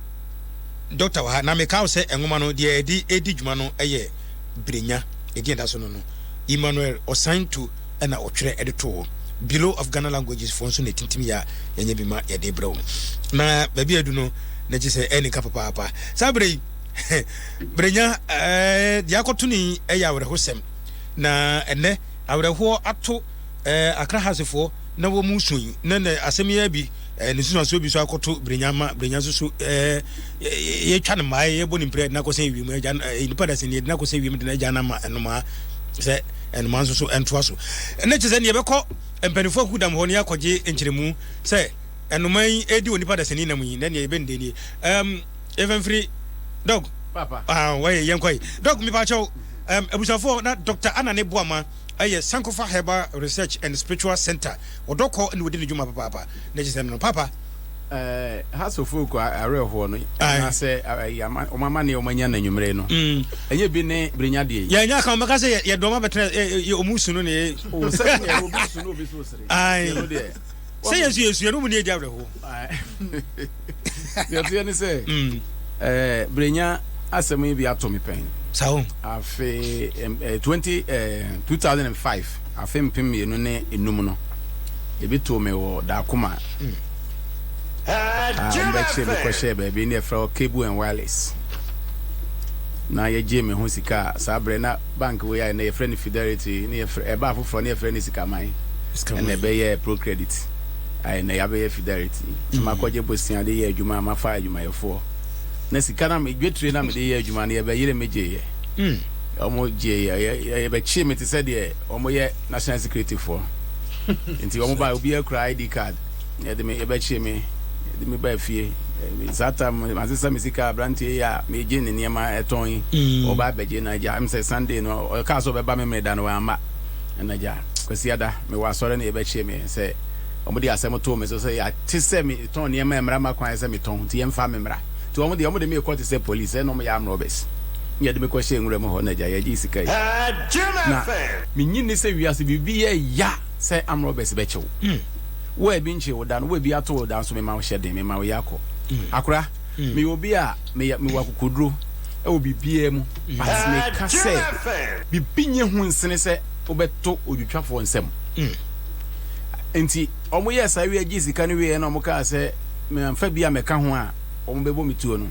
dɔkta wɔ ha na meka wo sɛ nwoma no deɛ ɛde ɛdi dwuma no ɛyɛ berenya ɛdeɛ da so no no emmanuel ɔsan to na ɔtwerɛ de too hɔ. Bureau of Ghana Languages foɔ nso na ɛtintim yɛ a yɛnyɛ bi ma yɛde brɛ wo. Na baabi adu no na gye sɛ ɛne ka papaapa. Saa berɛ yi, Brenya eh, deɛ akɔto no yi yɛ awerɛhosɛm. Na ɛnɛ awerɛhoɔ ato eh, Accra Hasefoɔ na wɔn mu so yi. Na na asɛm yi bi eh, ne susuansoɔ bi nso akɔto Brenya ma Brenya nso so eh, yɛtwa no mmaa yɛbɔ ne mpira de no akɔsɛn wiem. Agya, eh, nipa dasɛn yɛde no akɔsɛn wiem de no agya no ama nnomaa sɛ Ɛnoma nso so ntoa so ne kyerɛ sɛ nea ɛbɛkɔ mpanyinfoɔ akuo dam hɔ ne akɔgye nkyerɛmu sɛ ɛnoma yi ɛdi onipa dasani nam yi na nea ɛbɛ nde nie um, yɛfɛ mfiri dɔg ah, wɔyɛ yɛn kɔe dɔg mepaakyɛw um, abusuafoɔ na dr anane boama ɛyɛ sankofa herbal research and spiritual center ɔdɔkɔ ne wɔdi ne dwuma papaapa na kyerɛ sɛ no papa Eh, ha so folk awerɛhoɔ no anaasɛ ɔma ma ne ɔmanya no anwummere no mm. ɛnyɛ bi ne berenya deɛ yɛnya ka ɔmɛka sɛ yɛdɔma bɛtena ɔmu su no ne yɛ sɛ yɛsu yɛsuɛ no mu ne yɛdi awerɛhoɔ yɛteɛ ne sɛ mm. eh, berenya asɛm yi bi ato me pɛn afei 20 2005 Afe mpem mmienu ne nnum no, ebi too me wɔ Darkoma a wɔbɛkyeree me kɔhyɛɛ baabi ne yɛfrɛ hɔ Cable and Wireless, na yɛgyee me ho sika a saa berɛ na bank wei ayɛ, na yɛfrɛ no Fidelity, na yɛfrɛ, ɛbaa foforɔ na yɛfrɛ no Sikaman, ɛna ɛbɛyɛɛ Procredit, ayɛ na yɛabɛyɛ Fidelity, na makɔgye bosea de yɛ adwuma a mafa adwumayɛfoɔ, na sika no a, dwetire no a mede yɛ adwuma no yɛbɛyere me gyeeɛ. Wɔgyee yɛn, wɔbɛkyee me te sɛ deɛ wɔyɛ national securityfoɔ. Nti wɔbaeɛ, obiara kura ID card, yɛde me, yɛbɛkyee me, yɛde me baa fie. Eh, saa tam no, masesa me sika, aberanteɛ yi a megye ne nneɛma tɔn yi, mm. ɔba abɛgye no agya. Ɛm sɛ Sunday no, ɔkaa sɛ ɔbɛba me mmerɛ da no, wamma. Ɛna agya, Kwasiada, mewɔ asɔre no yɛbɛkyee me sɛ wɔde asɛm too me so sɛ yɛate sɛ me tɔn nneɛma a mmara ma kwan sɛ metɔn nti yɛmfa me mmra nti wɔn deɛ wɔn de me rekɔ te sɛ police ɛna wɔn yɛ arm robbers na yɛde me kɔ hyɛɛ nwura mu hɔ na agya yɛgye sika yi na menye nni sɛ wiase biribi yɛ ya sɛ arm robbers bɛkye wo wo a ebi nkyee wo da no wo a ebi ato wo da nso mema wo hyɛ den mema wo yɛ kɔ akora meyɛ obi a meyɛ mewɔ akokoduro ɛwɔ biribiara mu but meka sɛ biribi nyɛ hu nsene sɛ wobɛto odwitwafoɔ nsam nti Wɔyɛɛ saa wiee gyee sika no wieeɛ na wɔkaa sɛ mamfa bi ammɛka ho a, wɔbɛbɔ me tuo no.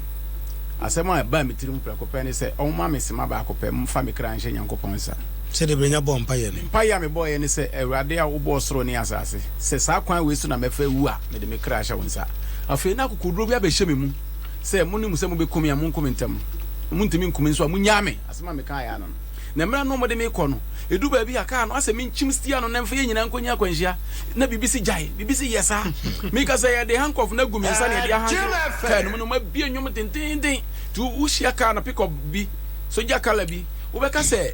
Asɛm a ɛbaa me tirim prɛko pɛ ne sɛ, Wɔmma me sima baako pɛ mfa me kra nhyɛ Nyankopɔn nsa. Sɛdeɛ Brenya bɔɔ mpaeɛ no. Mpaeɛ a mebɔeɛ ne sɛ, Awurade a wobɔɔ soro ne asase, sɛ saa kwan wei so na mɛfa awu a, mede me kra hyɛ wo nsa. Afei na akokoɔduro bi abɛhyɛ me mu sɛ, Monim sɛ mobɛku me a, monku me ntɛm. Montumi nku me nso a, monnyaa me. Asɛm a mekaeɛ ara no. Na mmerɛ no mode me kɔ no, ɛdu baabi a, kaa no asɛ menkyim stia no na mfa yɛn nyinaa nkɔnya akwanhyia, na biribi se gyae, biribi se yɛ saa. Meka sɛ, Yɛde handcuff no agu me nsa na yɛde ahanke kaa no mu, na wɔabue nnwom no dendeenden. Nti wohyia kaa no, pick up bi, sogya colour bi, wobɛka sɛ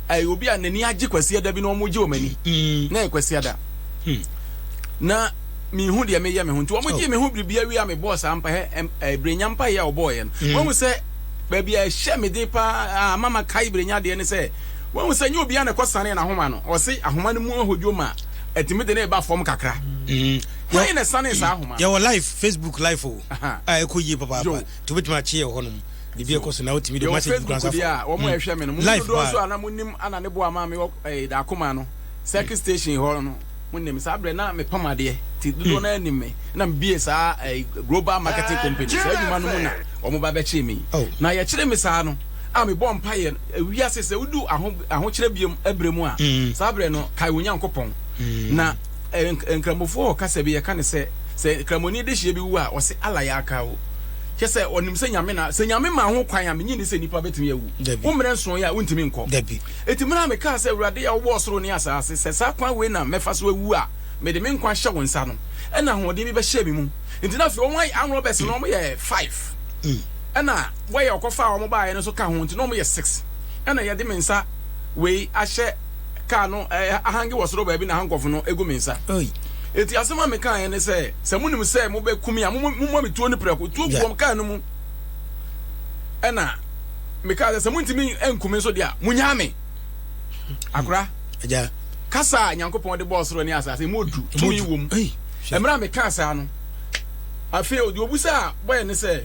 ɛyɛ obi a n'ani agye Kwasiada bi na wɔregye wɔn ani, na ɛyɛ Kwasiada. Na menhu deɛ meyɛ me ho, nti wɔgyee me ho biribiara wie a mebɔɔ saa mpaeɛ, ɛɛ, berɛnya mpaeɛ a wɔbɔeɛ no. Wahu sɛ. baabi a ɛhyɛ me den paa a ama makae berenya adeɛ ne sɛ, wahu sɛ nyɛ obiara na ɛkɔsanee n'ahoma no. Ɔse ahoma no mu ahodwo ma ɛtumi de no reba fam kakra. Mm. Hwan na ɛsanee saa ahoma no? Yɛwɔ live, Facebook live o, a ɛkɔ yie papaapa nti wobɛtumi akye yɛ hɔ nom. Biribi ɛkɔ so na wotumi de message kura nsa fam. Yɛwɔ Facebook deɛ a wɔn a ɛhwɛ me no, mo dodoɔ nso a na monim ana ne boa maa me wɔ eh, Dakoma no, circuit station hɔ no. Monim, saa berɛ na mepam adeɛ, nti dodoɔ no ara nim me, ɛna mebiee saa Global Marketing Company, saa adwuma no mu na wɔn ba bɛkyee me, na yɛkyeree me saa no a mebɔɔ mpaeɛ, ewiase sɛ wodu ahokyerɛ bio berɛ mu a, saa berɛ no kae wo Nyankopɔn, na Nkramofoɔ hɔ kasa bi yɛka no sɛ, sɛ Kramoni dehyeɛ bi wu a ɔse Allah yaka wo, kyerɛ sɛ ɔnim sɛ Nyame na, sɛ Nyame maa ho kwan a, mennye nni sɛ nnipa bɛtumi awu, wo mmerɛ nsoeɛ a wontumi nkɔ. Enti mena mekaa sɛ, Awurade a wobɔɔ soro ne asaase, sɛ saa kwan wei na mɛfa so awu a, mede me nkwa hyɛ wo nsa. No, ɛnna ahoɔden bi bɛhyɛɛ me mu. Enti na afei wɔayɛ armed robbers no, wɔyɛ five, ɛnna wɔyɛ ɔkɔfaa wɔn baeɛ no nso ka ho, enti na wɔyɛ six. Ɛnna yɛde me nsa wei ahyɛ kaa no, ahange wɔ soro baabi na handcuff no gu me nsa. Enti asɛm a mekaeɛ ne sɛ, Sɛ monim sɛ mobɛku me a, mommɔ me tuo no prɛko. Tuo gu wɔn kaa no mu. Ɛnna. mekaa sɛ sɛ montumi anku me nso deɛ a monyaa me akora kasa a nyankopɔn de bɔɔ soro ne asase mu odu tumi wɔ mu mmerɛ a mekaa saa no afei ɔde obu sɛ a bɔyɛ ne sɛ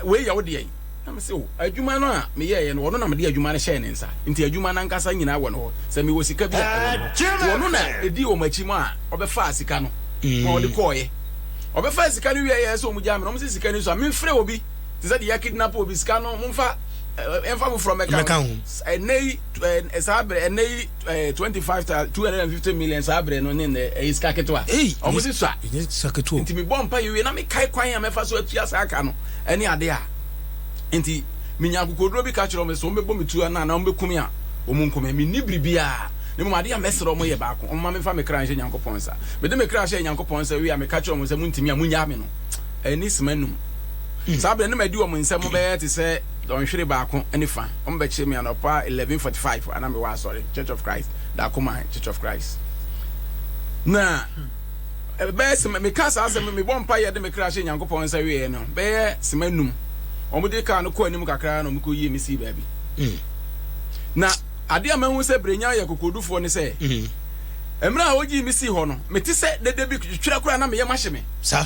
wei yɛ wo deɛ na me sɛ o adwuma no a meyɛeɛ no wɔno na mede adwuma no hyɛɛ ne nsa nti adwuma no ankasa nyinaa wɔ no hɔ sɛ mewɔ sika bi a ɛwɔ no hɔ wɔno na ɛdi wɔn akyi mu a ɔbɛfaa sika no ma ɔde kɔɔeɛ ɔbɛfaa sika no wieɛ sɛ ɔmugyaa me na ɔm sɛ sika no so a memfrɛ obi te sɛ deɛ yɛ kidnap obi sika no mo nfa ɛnfa foforɔ mɛka ho ɛnɛ yi ɛɛ saa abirɛ ɛnɛ yi ɛɛ twenty five thousand two hundred and fifty million saa abirɛ no ne nɛ ɛyɛ sika ketewa ɔmo si sa nti mi bɔ mpa yiwie na mi kae kwan a mɛfa so atua saa ka no ɛne ade a nti mi nya akokoduro bi ka kyerɛ ɔmo sɛ ɔmo bɛbɔ mi tua na na ɔmo bɛkum a ɔmo nkum mi ni biribiara ne mu ade a mɛsrɛ ɔmo yɛ baako ɔmo ma mi fa mi kra nhyɛ nyankopɔn nsa mede mi kra hyɛ nyankopɔn nsa wie a meka kyerɛ ɔmo sɛ mo ntumi a mo nyaa mi no ani sima anum. Saa berɛ no na madi wɔn nsam bɛyɛ te sɛ dɔnhwere baako ne fã. Wɔbɛkyeree me anɔpa 11:45 a na mewɔ asɔre, Church of Christ, Dakoma, Church of Christ. Na ɛbɛyɛ sima, meka saa asɛm, mebɔ mpaeɛ de me kra hyɛ Nyankopɔn nsa wieeɛ no, bɛyɛ sima anum. Wɔde kaa no kɔɔ anim kakra na wɔkɔyie me sii baabi. Mm. Na adeɛ a mahu sɛ Brenya yɛ kokodufoɔ ne sɛ, mm. mmerɛ a wɔgyii me sii hɔ no, mete sɛ dede bi twerɛ koraa na meyɛ mahye me. Sa.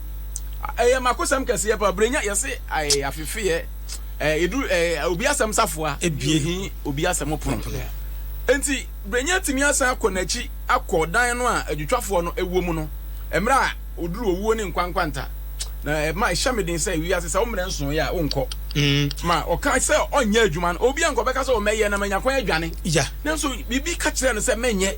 Ɛyɛ makosɛm kɛseɛ paa brɛnya yɛse ae afefeɛ eh, edu eh, obi asɛm safoa ebie hi obi asɛm pono enti brɛnya tumi asan akɔ n'akyi akɔ dan no a adwitwafoɔ no ɛwɔ mu no mmerɛ a oduru owuo ne nkwa nkwanta na ɛma ɛhyɛ me den sɛ wiase sɛ wo mmerɛ nso yɛ a wonkɔ mm. ma ɔka sɛ ɔnyɛ adwuma no obi ankɔ bɛka sɛ ɔmɛyɛ na manya kwan adwane nanso biribi ka kyerɛ no sɛ mɛnyɛ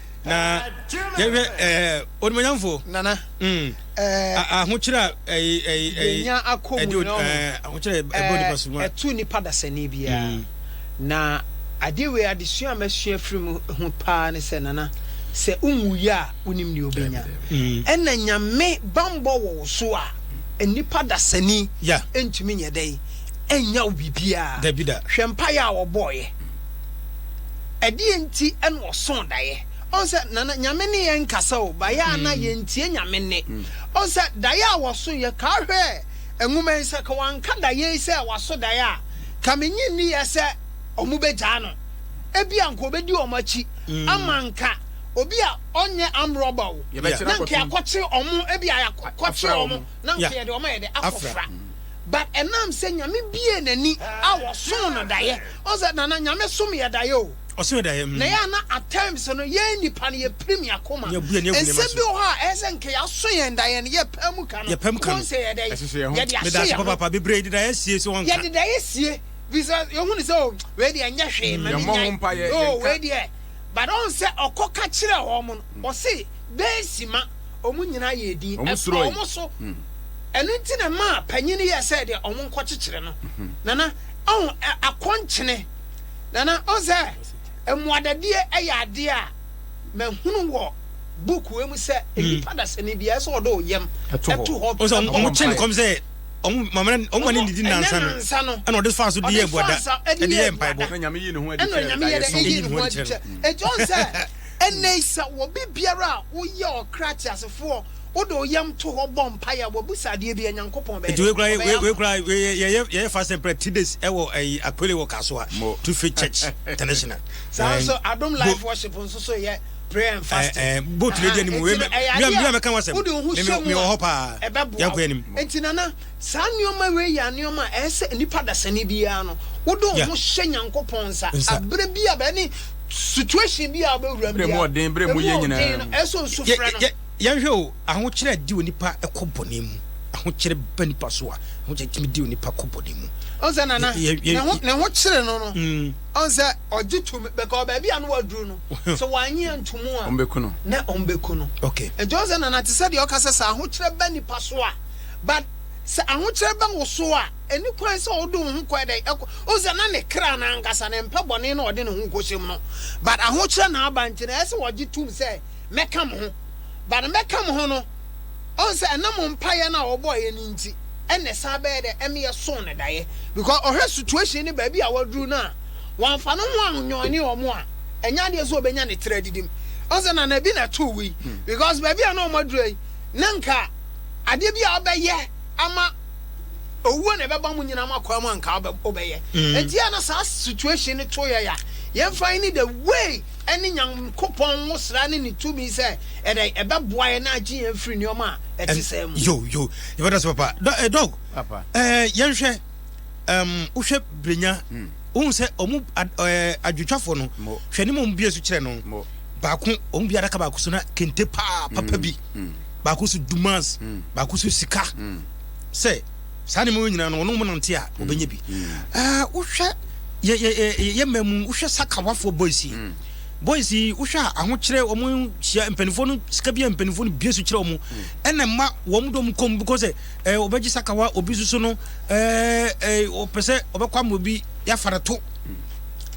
na yɛhwɛ ɛɛ onimuonyamfo. nana. Mm. ɛɛ ahokyerɛ a ɛyi ɛyi ɛyi yɛnya akɔ mu ɛdi no ɛɛ ahokyerɛ a ɛbɔ nipa so mu a. ɛtu nipa dasani biara mm. na adeɛ wei adesua a masua firi mu ho paa ne sɛ nana sɛ wonwuiɛ a wonim deɛ wobɛnya mm. ɛna nyame bambɔ wɔ wo so a nnipa dasani yeah. ɛntumi nyɛ dɛn ɛnya wo biribiaa hwɛ mpaeɛ a wɔbɔɔyɛ Ɛdeɛn nti na ɔsoo daeɛ? Ɔhu sɛ nana nyame ne yɛn nkasa o bayɛ a na yɛntie nyame nne. Ɔhu sɛ daeɛ a wɔsoeɛ kaa hwɛɛ nwoma yi sɛ ka wɔanka daeɛ yi sɛ waso daeɛ a ka mennye nniiɛ sɛ wɔn bɛgyaa no. Ebia anka wɔbɛdi wɔn akyi ama nka obi a ɔnyɛ armed robber o na nka yɛakɔkye wɔn ebia yɛakɔkye wɔn na nka yɛde wɔn ayɛ dɛ akɔfra. But ɛnam sɛ Nyame biee n'ani a wɔsoo no daeɛ. Wohu sɛ Nana, Nyame som yɛ daeɛ o. Ɔso yɛ daeɛ mm. Na yɛa na at times no, yɛn nnipa no yɛpirim yɛn akoma. Yɛbu yɛn ani agu nneɛma so. Nsɛm bi wɔ hɔ a ɛyɛ sɛ nka yɛaso yɛn daeɛ no, yɛpae mu ka no. Yɛpae mu ka no. Wohu sɛ yɛdɛn? Ɛhyehyɛ yɛn ho. Yɛde ahyɛ yɛn ho. Medaase papaapa, bebree de daeɛ sie so wɔnka. Yɛde daeɛ sie, firi sɛ yɛhu no sɛ o, wei deɛ ɛnyɛ hwee, ma me nyae. Yɛmmɔ ho mpaeɛ, yɛnka. O, wei deɛ, but wohu sɛ ɔkɔ ka kyerɛɛ wɔn no, ɔse. Dɛn nti ma wɔn nyinaa yɛɛ dinn? Ɛtɔɔ wɔn so. Ɛno nti na ɛmaa panyin no yɛɛ sɛ deɛ wɔnkɔkyekyere no. Nana, ɔho, akɔnkyene. Nana, ɔho sɛ mmoadadie yɛ adeɛ a mahunu wɔ book wei mu sɛ nnipa dasani biara ɛsɛ ɔde wo yam to hɔ bɔ mpaeɛ. Wɔn kyɛ ne kɔm sɛ wɔn mama ne wɔn ma ne didi nansa no ɛna ɔde faa so de yɛ abuada ɛde yɛ mpaebɔ. Ɛna Nyame yɛ ne ho adi kyerɛ. Ɛna Nyame yɛ ne ho adi kyerɛ. Ɛti ɔho sɛ. Ɛnnɛ yi, sɛ obi biara a woyɛ ɔkra teasefoɔ, wode wo yam to hɔ bɔ mpaeɛ a, wabusa adeɛ bi a, Nyankopɔn bɛyɛ dɛn? Ɔbɛyɛ ama wo. Yɛyɛ fast and prayer three days wɔ Akpele wɔ Kasoa Tufe Church International. Saa nso Adom Life Worship nso so yɛ prayer and fasting. Boat no di anim. Ɛyɛ adeɛ a wode wo ho hyɛ mu a, ɛbɛboa wo. Nti Nana. Saa nnoɔma wei yɛ nnoɔma a ɛsɛ sɛ nipa dasani biara no wode wo ho hyɛ Nyankopɔn nsa aberɛ biara bɛyɛ ne situation biara wobɛwura mu biara, berɛ mu ɔden no ɛsɛ sɛ osu frɛ no. Yɛnhwɛ o, ahokyerɛ a ɛde onipa kɔ bɔne mu, ahokyerɛ ba nipa so a ahokyerɛ tumi de onipa kɔ bɔne mu. Ɔn sɛ nana, ne ho kyere no no, ɔn sɛ ɔgye tumi, bɛka baabi a no waduru no, sɛ wanye antumu a, na ɔmbɛku no. Nti ɔn sɛ nana, te sɛ deɛ ɔka sɛ sɛ ahokyerɛ ba nipa so a, But sɛ ahokyerɛ ba wo so a, ɛni kwan sɛ wode wo ho kɔ ɛdɛn? Ɛkɔ, wohu sɛ na ne kra no ankasa no ɛmpɛ bɔne na ɔde ne ho kɔhyɛ mu no. But ahokyerɛ na aba nti no, ɛyɛ sɛ ɔgye tom sɛ, Mɛka me ho. But mɛka me ho no, ɔhu sɛ ɛnam mpaeɛ no a ɔbɔeɛ no nti ɛna ɛsan bɛyɛ dɛn? Ɛma yɛsoo no daeɛ. Because ɔhwɛ situation ne baabi a waduru no a, wamfa ne ho annyɔɔne wɔn a, ɛnyɛ adeɛ sɛ ɔbɛnya ne tiri adidim. Ɔhu sɛ nana bi na ɛtoo wei. Because baabi a na wɔaduru yi, na nka. Adeɛ bi a wobɛyɛ ama owuo na ɛbɛba mo nyinaa mo akwaa mu anka wobɛyɛ ɛnti a na saa situation no to yɛ a yɛmfa yi ne the way ɛne nyankopɔn wo sra ne ne tumi sɛ ɛdɛ ɛbɛboa yɛ na agye yɛn firi nneɛma a ɛte saa mu yo yo yɛbɛda sɛ papa eh, dɔg eh, yɛnhwɛ wohwɛ brenya hmm. wohu sɛ ɔmu eh, adwotwafoɔ no hwɛ ne mu ɔmu bie so kyerɛ no baako ɔmu bi adaka baako so na kente paa papa hmm. bi baako so dumas baako so sika sɛ saa nneɛma wɔ nyinaa no wɔn wɔn nante a wɔbɛnya bi ɛɛ wohwɛ yɛ yɛ yɛ yɛ mmaa mu wohwɛ sakawafoɔ boys yi boys yi wohwɛ a ahokyerɛ wɔn hyia mpanimfoɔ no sika bi a mpanimfoɔ no bie so kyerɛ wɔn ɛna mma wɔn dɔm kɔm because ɛɛ eh, wɔbɛgye sakawa obi soso no ɛɛ ɛɛ wɔpɛ sɛ wɔbɛkɔ ama obi yɛafa no to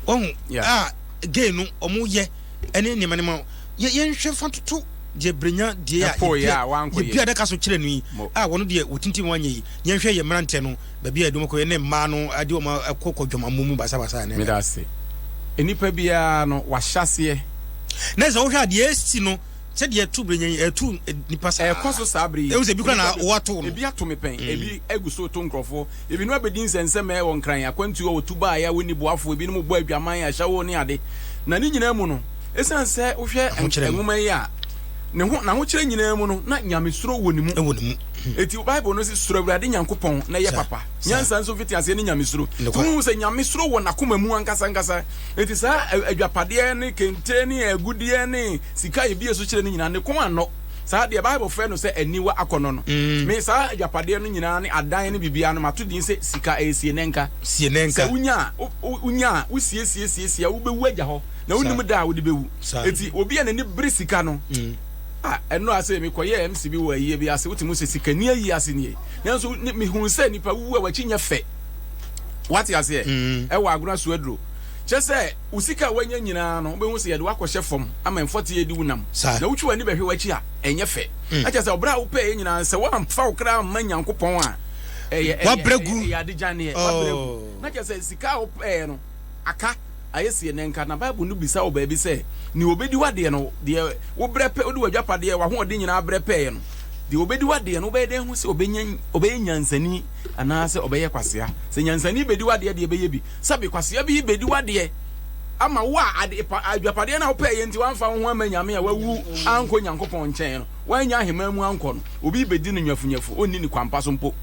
wɔn a gay no wɔn yɛ. ɛne nneɛma nneɛma yɛ yɛnhwɛ fa toto deɛ brenya deɛ a Ɛpo yɛ a wankɔyɛ. yɛbi adaka so kyerɛ no yi Mo- a wɔn deɛ wɔtintim wɔn anyɛ yi yɛnhwɛ yɛ mmeranteɛ no baabi a yɛde wɔn kɔyɛ ne mmaa no ade wɔn akɔ kɔ dwamammo mu basabasa ne meda ase nnipa biara no wahyɛseɛ na sɛ wohwɛ a deɛ ɛsi no sɛdeɛ ɛto brenya yi ɛto eh, nipa saa ɛkɔ so saa bere yi Ɛhu sɛ ebi koraa na Nnipa bi- wɔato no. ebi ato me pɛn ebi agu so to nkurɔfoɔ Ebinom abedi nsɛnsɛmɛɛ wɔ Nkran, akwantu a wɔtu bae a wonni boafo, ebinom rebɔ adwaman, ahyɛwo ne ade. Na ne nyinaa mu no, esiane sɛ wohwɛ nwoma yi a ne ho n'ahokyerɛ nyinaa mu no, na nyamesuro wɔ ne mu. Enti Bible no se, Suro Awurade Nyankopɔn na yɛ papa. Nyansa nso mfitiaseɛ ne nyamesuro. Nti wohu sɛ nyamesuro wɔ n'akoma mu ankasa ankasa. Enti saa adwapadeɛ ne kente ne agudeɛ ne sika a yɛbie so kyerɛ no nyinaa, ne kɔn annɔ. saa deɛ bible frɛ no sɛ aniwa akɔnnɔ no me saa agyapadeɛ no nyinaa ne adan no biribiara no mato din sɛ sika ɛyɛ sienɛnka sɛ wonya a wonya a wosiesie siesie a wobɛwu agya hɔ na wonim da a wode bɛwu ɛti obi a n'ani bere sika no mm. a ɛno ase mekɔyɛ mc bi wɔ ayie bi ase wotumi sɛ sikani ayi ase nie nanso mehuu sɛ nnipa wuwu a wakyi nyɛ fɛ wate aseɛ mm. ɛwɔ agona so aduro kyɛ sɛ Wo sika a woanya nyinaa no, wobɛhu sɛ yɛde wo akɔhyɛ fam ama mfɔte adi wo nam, na wotwe w'ani bɛhwɛ w'akyi a, ɛnyɛ fɛ. Na kyerɛ sɛ ɔbra a wopɛeɛ nyinaa, sɛ woamfa wo kra amma Nyankopɔn a, ɛyɛ, ɛyɛ, ɛyɛ, ɛyɛ ade gyaneɛ. Woabrɛ agu. Na kyerɛ sɛ sika a wopɛeɛ no aka, ayɛ sie. Ɛnnɛ nka na Bible no bisa wɔ baabi sɛ, Nea ɔbɛdi w'adeɛ no, deɛ wobrɛ pɛ, wode w'agyapadeɛ, w'ahoɔden nyinaa brɛ pɛeɛ no, deɛ ɔbɛdi w'adeɛ no, wobɛyɛ dɛn ahu sɛ ɔbɛnya, ɔbɛyɛ nyansani anaasɛ ɔbɛyɛ kwasea? Sɛ nyansani bɛdi w'adeɛ deɛ, ɛbɛyɛ bi. Sɛbe kwasea bi bedi w'adeɛ ama wo a, ade pa, adwapadeɛ no a wopɛɛyɛ nti wamfa wo ho amma Nyame a wawu ankɔ Nyankopɔn nkyɛn no, wannya aheman mu ankɔ no, obi bedi no nyafunyafu, onni ne kwampa so mpo.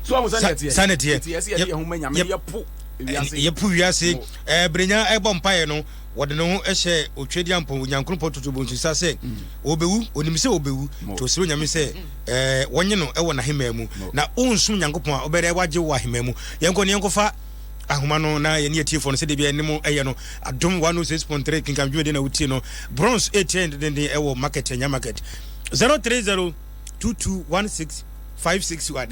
So ahu sɛnea ɛteɛ? Sɛnea ɛteɛ. Enti ɛsɛ yɛde yɛn ho ma Nyame na yɛpo wiase. Yɛpo wiase. Ɛɛ, berenya ɛbɔ mpaeɛ no, Wɔde ne ho hyɛɛ Otwedeampɔn wɔ Nyankoropɔn Toto Bonsusa sɛ ɔrebewu. Onim sɛ ɔrebewu, nti ɔsrɛ Onyame sɛ wɔnye no wɔ n'ahemaa mu, na ɔnsom Nyankopɔn a, ɔbɛyɛ dɛ wagye wo wɔ ahemaa mu. Yɛnkɔ na yɛnkɔfa ahoma no na yɛne atiefoɔ no sɛdeɛ bia yɛne mo yɛ no. Adom 106.3 kenkan dwumadie na wotie no. Bronze ɛretia yɛn dendenden wɔ market, Anya market 030. 2216561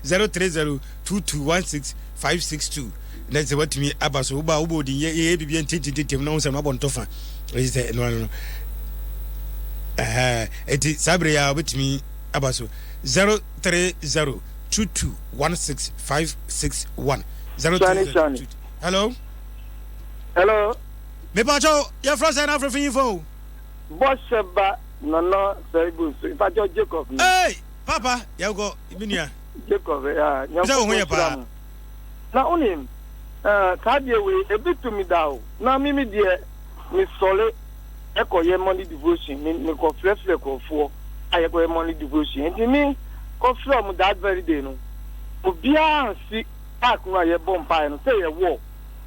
0302216562 na sɛ watumi aba so woba wobɔ odin yɛyɛ biribi ntintintintim na wo sɛ no abɔ ntɔfa ɛyi sɛ ɛno ano no ɛti saa berɛ yɛ a wobɛtumi aba so 0302216561 0302 hello hello mepakyɛw yɛfrɛ sɛ no afrɛfo yi fo Bɔhyɛ ba nana saibu so ipakyɛw Jacob ni. Eei papa yɛnkɔ me nua. Jacob ya nyankopɔn nhyira mo. Na wonim eh, saa deɛ wei ebi to me da o na me me deɛ me sɔre ɛkɔ yɛ morning devotion me me kɔ frɛ frɛ kɔfoɔ a yɛkɔ yɛ morning devotion nti me kɔ frɛ ɔmo that very day no obiara nsi park no a yɛbɔ mpaeɛ no sɛ yɛ wall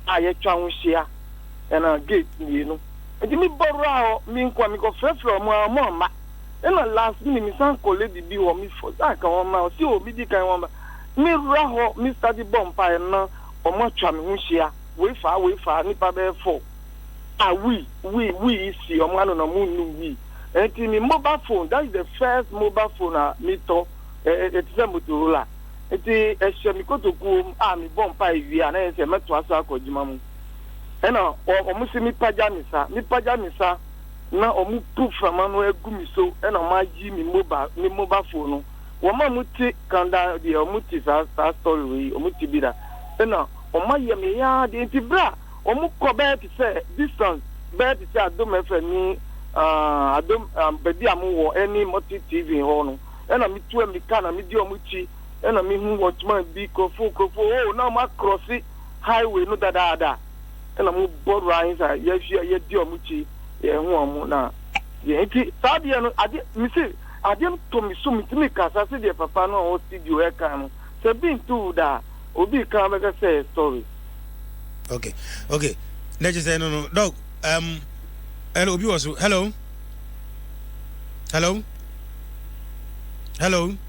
a yɛtwa ho hyia ɛna gate mmienu. Enti me bɔraa hɔ, me nkoa, me kɔ frɛ frɛ ɔmo aa ɔmo amma. Ɛna last minute me san kɔ lady bi hɔ, me force aa ka wɔn ma, ɔse oo me di kan wɔn ba. Me ra hɔ, me study bɔ mpaeɛ na ɔmo atwa me ho hyia, wei faa wei faa, nipa bɛyɛ four a wii wii wii yi si ɔmo ano na ɔmo nnum wii. Enti me mobile phone, that is the first mobile phone a me tɔ, ɛ ɛ ɛte sɛ motorola, enti ɛhyɛ me kotokuo mu a me bɔ mpaeɛ wie a na yɛ sɛ mɛtoa so akɔ adwuma mu. Ɛna wɔn se mepagya me sa, mepagya me sa na wɔn pu frama no agu me so ɛna wɔn ayi me mobile, me mobile phone no. Wɔn a wɔn te kanda deɛ wɔn te saa saa story wei wɔn te bi da. Ɛna wɔn ayɛ me ya deɛ nti bere a wɔn kɔ bɛyɛ te sɛ distance bɛyɛ te sɛ Adom FM ne uh, Adom uh, baabi a mo wɔ ɛne Mɔte TV hɔ no. Ɛna metu amika na medi wɔn akyi ɛna mehu wɔn tuma bi kurofo kurofo oh na wɔn akorɔse highway no dadaada na mo bɔ runs a yɛhwɛ yɛdi ɔmo kyi yɛn ho ɔmo na yɛn ti saa deɛ no ade me se ade to me so me ti me kasa se deɛ papa no a ɔwɔ studio ɛka no sɛ bi nto wo da obi kan bɛka sɛ story. okay okay na kyerɛ sɛ no no dog um, hello obi wɔ so hello hello hello.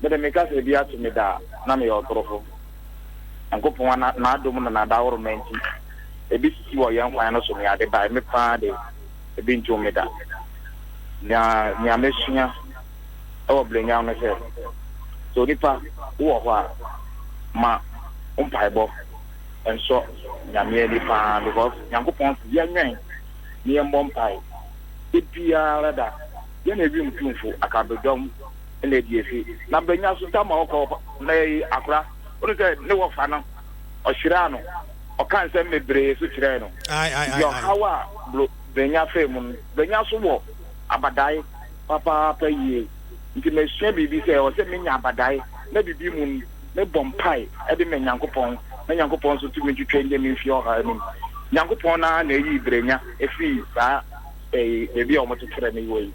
Me de, meka sɛ ebi ato me da a, na meyɛ ɔtorofo. Nyankopɔn a N'adom ne N'adaworoma nti, ebi sisi wɔ yɛn kwan no so ne ade bae. Me paa de, ebi ntoo me da. Na nea masua wɔ Blenheim ne sɛ, sɛ onipa wowɔ hɔ a, ma wo mpaebɔ nsɔ Nyame ani paa because Nyankopɔn se yɛnwɛn na yɛmmɔ mpae da biara da. Yɛne wim tumfo akabedɔm. na adi afi. Na mbɛnya asuntam ma ɔkɔ hɔ. Na yɛyi akora. Wohu sɛ ne wɔfa no, ɔhyiraa no, ɔkaa nsɛm bebree so kyerɛɛ no. Enti ɔhaw a bro Benya faa mu no, Benya nso wɔ abadae papaapa yie. Nti masua biribi sɛ ɛwɔ sɛ menya abadae na biribi mu no, mebɔ mpae de ma Nyankopɔn na Nyankopɔn nso tumi twitwa nnyɛ me mfi ɔhaw anim. Nyankopɔn no ara na ɛyii Brenya firii saa baabi a wɔkyekyerɛɛ no wɔ yi.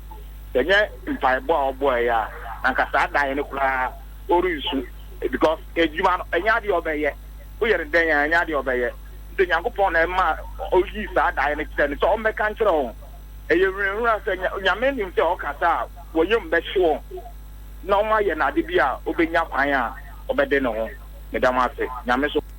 Ɛnyɛ mpaebɔ a ɔbɔeɛ a na anka saa daeɛ no koraa ɔrensu because adwuma no ɛnyɛ adeɛ a ɔbɛyɛ. Woyɛ no dɛn a ɛnyɛ adeɛ a ɔbɛyɛ. Nti Nyankopɔn na ɛma ɔyii saa daeɛ no kyerɛɛ no sɛ ɔmmɛka nkyerɛ wɔn. Ɛyɛ hurahura sɛ Nyame nim sɛ ɔkasa a wɔn yam bɛhye wɔn na wɔayɛ no ade bi a ɔbɛnya kwan a ɔbɛde ne ho. Meda mo ase Nyame so.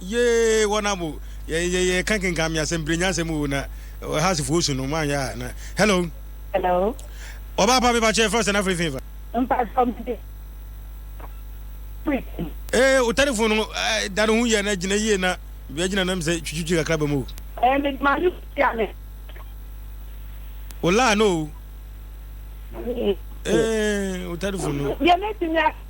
yee wɔn abo yɛ yɛ yɛ ka kenkan mi asɛm pere nyansɛm o na ha se fo osu no maa yɛ a na hello. hello. ɔbaa pa mi pa kyɛ fɛn sɛ na firi fin fa. mpa sɔ mi de preaching. ee o telefon no da ne ho yɛ na gyina yie na bia gyina nam sɛ twitwitwi kakra bɛ mu o. ɛɛ mi ma yi tia mi. o laa no o. ee o telefon no. yɛ ne ti mi a.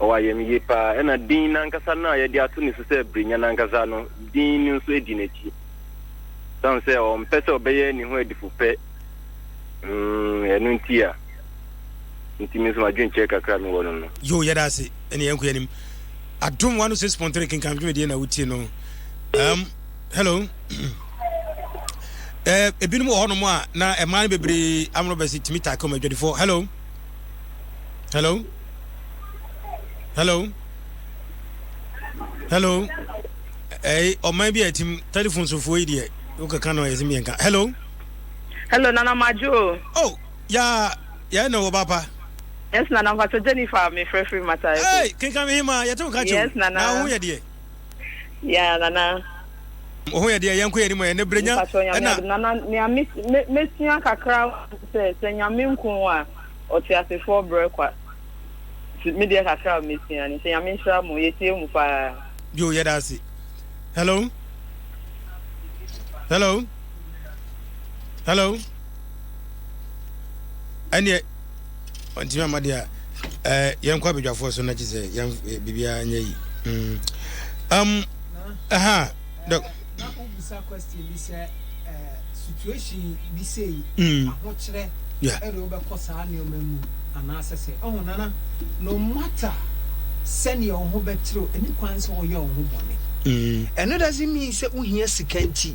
Ɔwɔ ayamye paa, ɛnna din no ankasa no a yɛde ato ne so sɛ Berennya no ankasa no din no nso di n'akyi. Esiane sɛ ɔmpɛ sɛ ɔbɛyɛ ne ho adifupɛ, mm, ɛno nti a nti me nso m'adwenkyerɛ kakra a mewɔ no no. Yoo, yɛda ase. Ɛnna yɛnkɔ yɛn anim. Adom 106.3 kenkan dwumadie na wotie no. Um, hello. Eh, ebinom wɔ hɔnom a na mmaa no bebree amorɔ bɛsi tumi taa kɔm adwadifoɔ. Hello. hello hello hello ɛyi ɔman bi a ɛtim telephone sofoɔ yi deɛ wokɛka no ɛsɛ mmiɛnka hello hello nana madwo o oh yaa yɛn na wɔ papa yes nana mpakyɛ jennifer mefrɛ firi matae hey kenka me hema yɛte wo ka kyɛw yes nana na wo ho yɛ deɛ Yeah nana. Wo ho yɛ deɛ yɛnkɔ yɛn anim ɛ ne berɛ nya ɛna. Nana nea mesua kakra sɛ sɛ nyame nko a ɔte asefoɔ brɛ kwa me deɛ kakra mesua ne sɛ nyame nhyira mo yɛtie mu paa. Yo yɛda ase. Hello. Hello. Hello. Ɛneɛ. ɔntumi ama deɛ ɛɛ yɛn kɔ abadwafoɔ so na kyi sɛ yɛn eh, biribiara nyɛ yi mm. um, ɛha dɔk. na wobusa question bi sɛ eh, situation bi sei mm. ahokyerɛ ɛde wobɛkɔ saa nneɛma mu anaasɛ sɛ ɛho nana no matter sɛnea wo ho bɛkyerɛw ɛne kwan sɛ woyɛ wo ho bɔne ɛno doesn't mean sɛ wohia sika nti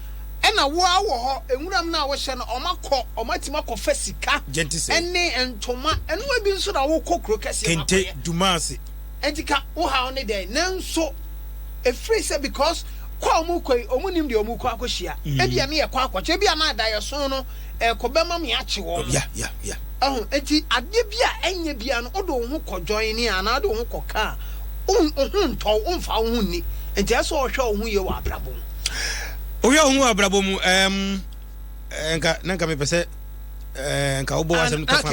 Ɛna wo ara wɔ hɔ nwura mu no a wohyɛ no ɔma kɔ ɔma atumi akɔ fa sika ɛne ntoma ɛno ebi nso na wo kɔ kuro kɛseɛ mu akɔyɛ kente dumase ɛnti ka wo haw ne dɛn nanso efiri sɛ because kɔ a ɔmo kɔ yi ɔmo nim deɛ ɔmo kɔ akɔ hyia ebi a ne yɛ kɔ akɔ kyɛ ebi a na adayɛ so no ɛkɔ bɛ ma me akye wɔn mo ɛho ɛnti adeɛ bi a ɛnyɛ bi a no ɔde wo ho kɔ join ne a na ɔde wo ho kɔ ka a wo ho ntɔw wo nfa wo ho nni ɛnti ɛsɛ ɔhwɛ wo ho yie wɔ abrabɔ mu. Wohwɛ wo ho wɔ abrabɔ mu ɛɛm nka na nka mepɛ sɛ ɛɛ nka wobɔ asɛm no tɔfa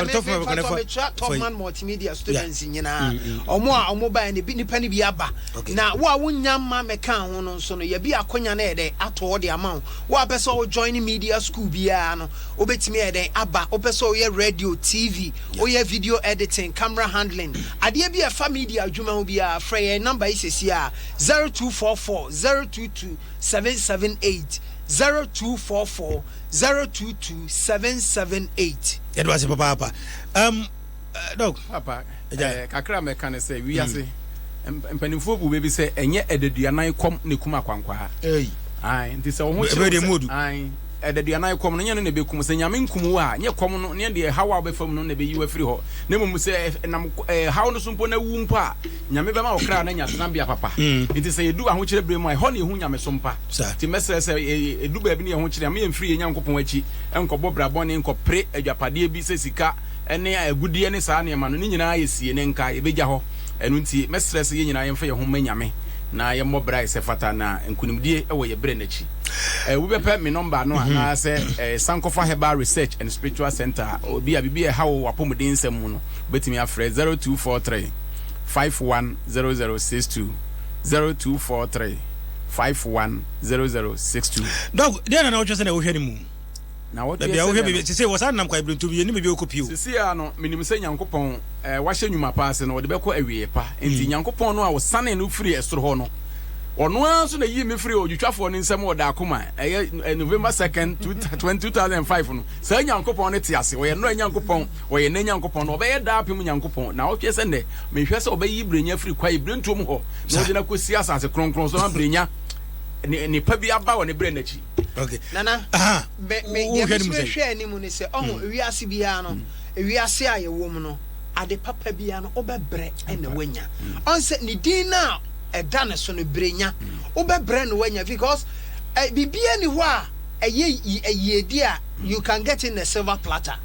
tɔfa bɛkɔ ne fa tɔman multimedia students nyinaa mm, mm, mm. ɔmo a ɔmo baeɛ no bi nipa no bi aba na wo a wonya mma mɛka ho no nso no yɛbi akonya no yɛ dɛ atɔ de ama wo wo a pɛ sɛ wo join media school biara no wobɛtumi yɛ dɛn aba wopɛ sɛ woyɛ radio tv woyɛ video editing camera handling adeɛ bi a ɛfa media adwuma ho biara frɛ yɛn number yi sɛsi a zero two four four zero two two seven seven eight zero two four four zero two two seven seven eight. yɛde wase papaapa um, uh, dɔk papa eh, kakra mɛka ne sɛ wiase mm. mpanimfoɔ bu baabi sɛ ɛnyɛ ɛdaduanan kɔm ne kum akwankwaa nti sɛ wo ho kyerɛ ɛdaduanan kɔm no nyɛ no na ɛbɛkum sɛ nyame nkum wo a nyɛ kɔm no ne deɛ haw a wobɛfa mu no na ɛbɛyi wo afiri hɔ na mmom sɛ ɛnam haw no so mpo na wu mpo a Nyame bɛma wo kra no anya tenabea papa. Nti sɛ yɛdu ahokyerɛ berɛ mu a, ɛhɔ na yɛhu nyamesom pa. Nti mɛsrɛ sɛ ɛdu baabi ne yɛ ho kyere a, ma yɛmfiri yɛn Nyankopɔn akyi nkɔbɔ bra bɔne, nkɔpere adwapadeɛ bi sɛ sika ne agudeɛ ne saa nneɛma no. Ne nyinaa yɛ sie ne nka, yɛbɛgya hɔ. Ɛno nti mɛsrɛ sɛ yɛn nyinaa yɛmfa yɛn ho mma Nyame na yɛmmɔ bra sɛ ɛfata, na nkunimdie wɔ yɛn berɛ no akyi. Eh, wobɛpɛ me nɔmba no anaa sɛ eh, san kɔfa Herbal Research and Spiritual Center a, obi a biribi ɛha wo wɔ apɔmuden nsɛm mu no, wobɛtumi afrɛ 0243. five one zero zero six two zero two four three five one zero zero six two. dɔk deɛ na na wohwɛ sɛ na wohwɛ no mu na woteɛ baabi a wohwɛ sɛdeɛ baabi no sese wɔ saa nam kwa ebirentum yɛ ne baabi a wokɔ pio sisi a no menim sɛ nyankopɔn eh, wahyɛ nnwuma pa ase no ɔde bɛkɔ awieɛ pa enti mm. nyankopɔn no a ɔsanee no firi ɛsoro hɔ no ɔno ara nso na yii me firi odwitwafoɔ no nsɛm ɔda akoma ɛyɛ eh, november 2nd 2005 no saa nyankopɔn no te ase ɔyɛ nnora nyankopɔn Ɔyɛ nnɛ Nyankopɔn na Ɔbɛyɛ daapem Nyankopɔn, na ɔhwɛ sɛ nnɛ, mehwɛ sɛ Ɔbɛyi Brenya afiri kwae birentuo mu hɔ, na ɔde no akɔsi asase kronkron so, na Brenya ne nnepa bi aba wɔ ne berɛ nna akyi. Okay. Nana, Aha. me, me, deɛ Wohwɛ ne mu mesere sɛn? hwɛ anim ne sɛ, ɔho, hmm. wiase biara no, hmm. wiase a yɛwɔ mu no, ade papa biara no, wobɛbrɛ na woanya. Hmm. Ɔn sɛ ne din no a ɛda ne so no, brenya, wobɛbrɛ na woanya because eh, biribiara ni hɔ a ɛyɛ yi- ɛyiedi a You can get in a silver platter.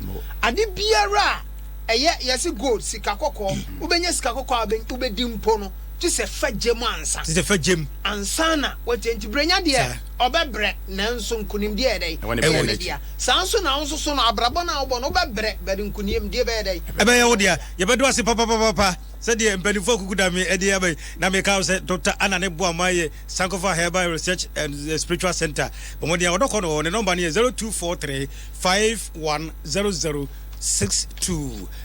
Ade biara a ɛyɛ, yɛse gold, sika kɔkɔɔ, wobɛnya sika kɔkɔɔ a wobɛdi mpo no, gye sɛ fa gya mu ansa. Gye sɛ fa gya mu. Ansa na woatia. Enti brɛnya deɛ, ɔbɛbrɛ, nanso nkonimdie yɛ dɛn? Ɛwɔ ne dea. Saa ara nso na wo nso so no, abrabɔ no a wobɔ no, wobɛbrɛ, but nkonimdie bɛyɛ dɛn? Ɛbɛyɛ wo dea. Yɛbɛda wo ase papapapapa sɛdeɛ mpanimfoɔ akuku da me adi aba yi, na meka wo sɛ Doctor Anna ne boa ma yɛ. Sankofa Herbal Research and Spiritual Centre bɔ mmɔden a wɔdɔ kɔ no hɔ. Ne nɔmba no yɛ 0243 510062,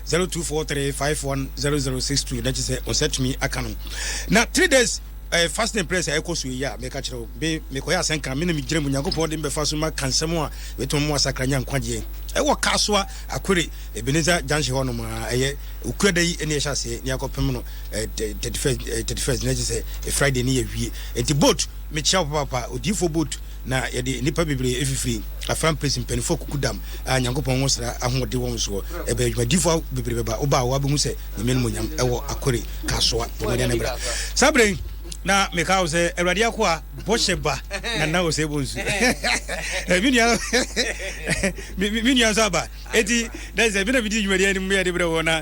0243 510062, na kyerɛ sɛ wo nsa tumi aka no. Na three days eh, fasting and prayers a ɛkɔ so yi a meka kyerɛ wo be mekɔyɛ asɛnka me na megyina mu nyankopɔn de mbɛfa so ma ka nsɛm a bɛtumi mu asakra nya nkwagyeɛ ɛwɔ kasoa akwere ebeneza junction hɔ nom a ɛyɛ okuada yi ne ɛhyɛ aseɛ ne akɔpem no eh, thirty first eh, thirty first na kyerɛ sɛ friday ne yɛwie nti boat mekyia wo papaapa odiyifoɔ boat na yɛde nnipa bebree ɛfifiri afra mpɛsi mpanimfoɔ kuku dam a nyankopɔn ho sra ahoɔde wɔn soɔ ɛbɛ adwumadifoɔ bebree bɛba woba a woabɛhu sɛ nyame no mu nyam ɛwɔ akore kasoa ɔmɔdeɛ no bra saa berɛ yi na meka wo sɛ awurade ako a bɔhyɛ ba na na ɔsɛ bɔ nsu menua nso aba ɛti dɛ sɛ mena medi dwumadeɛ no mu yɛde berɛ wɔ na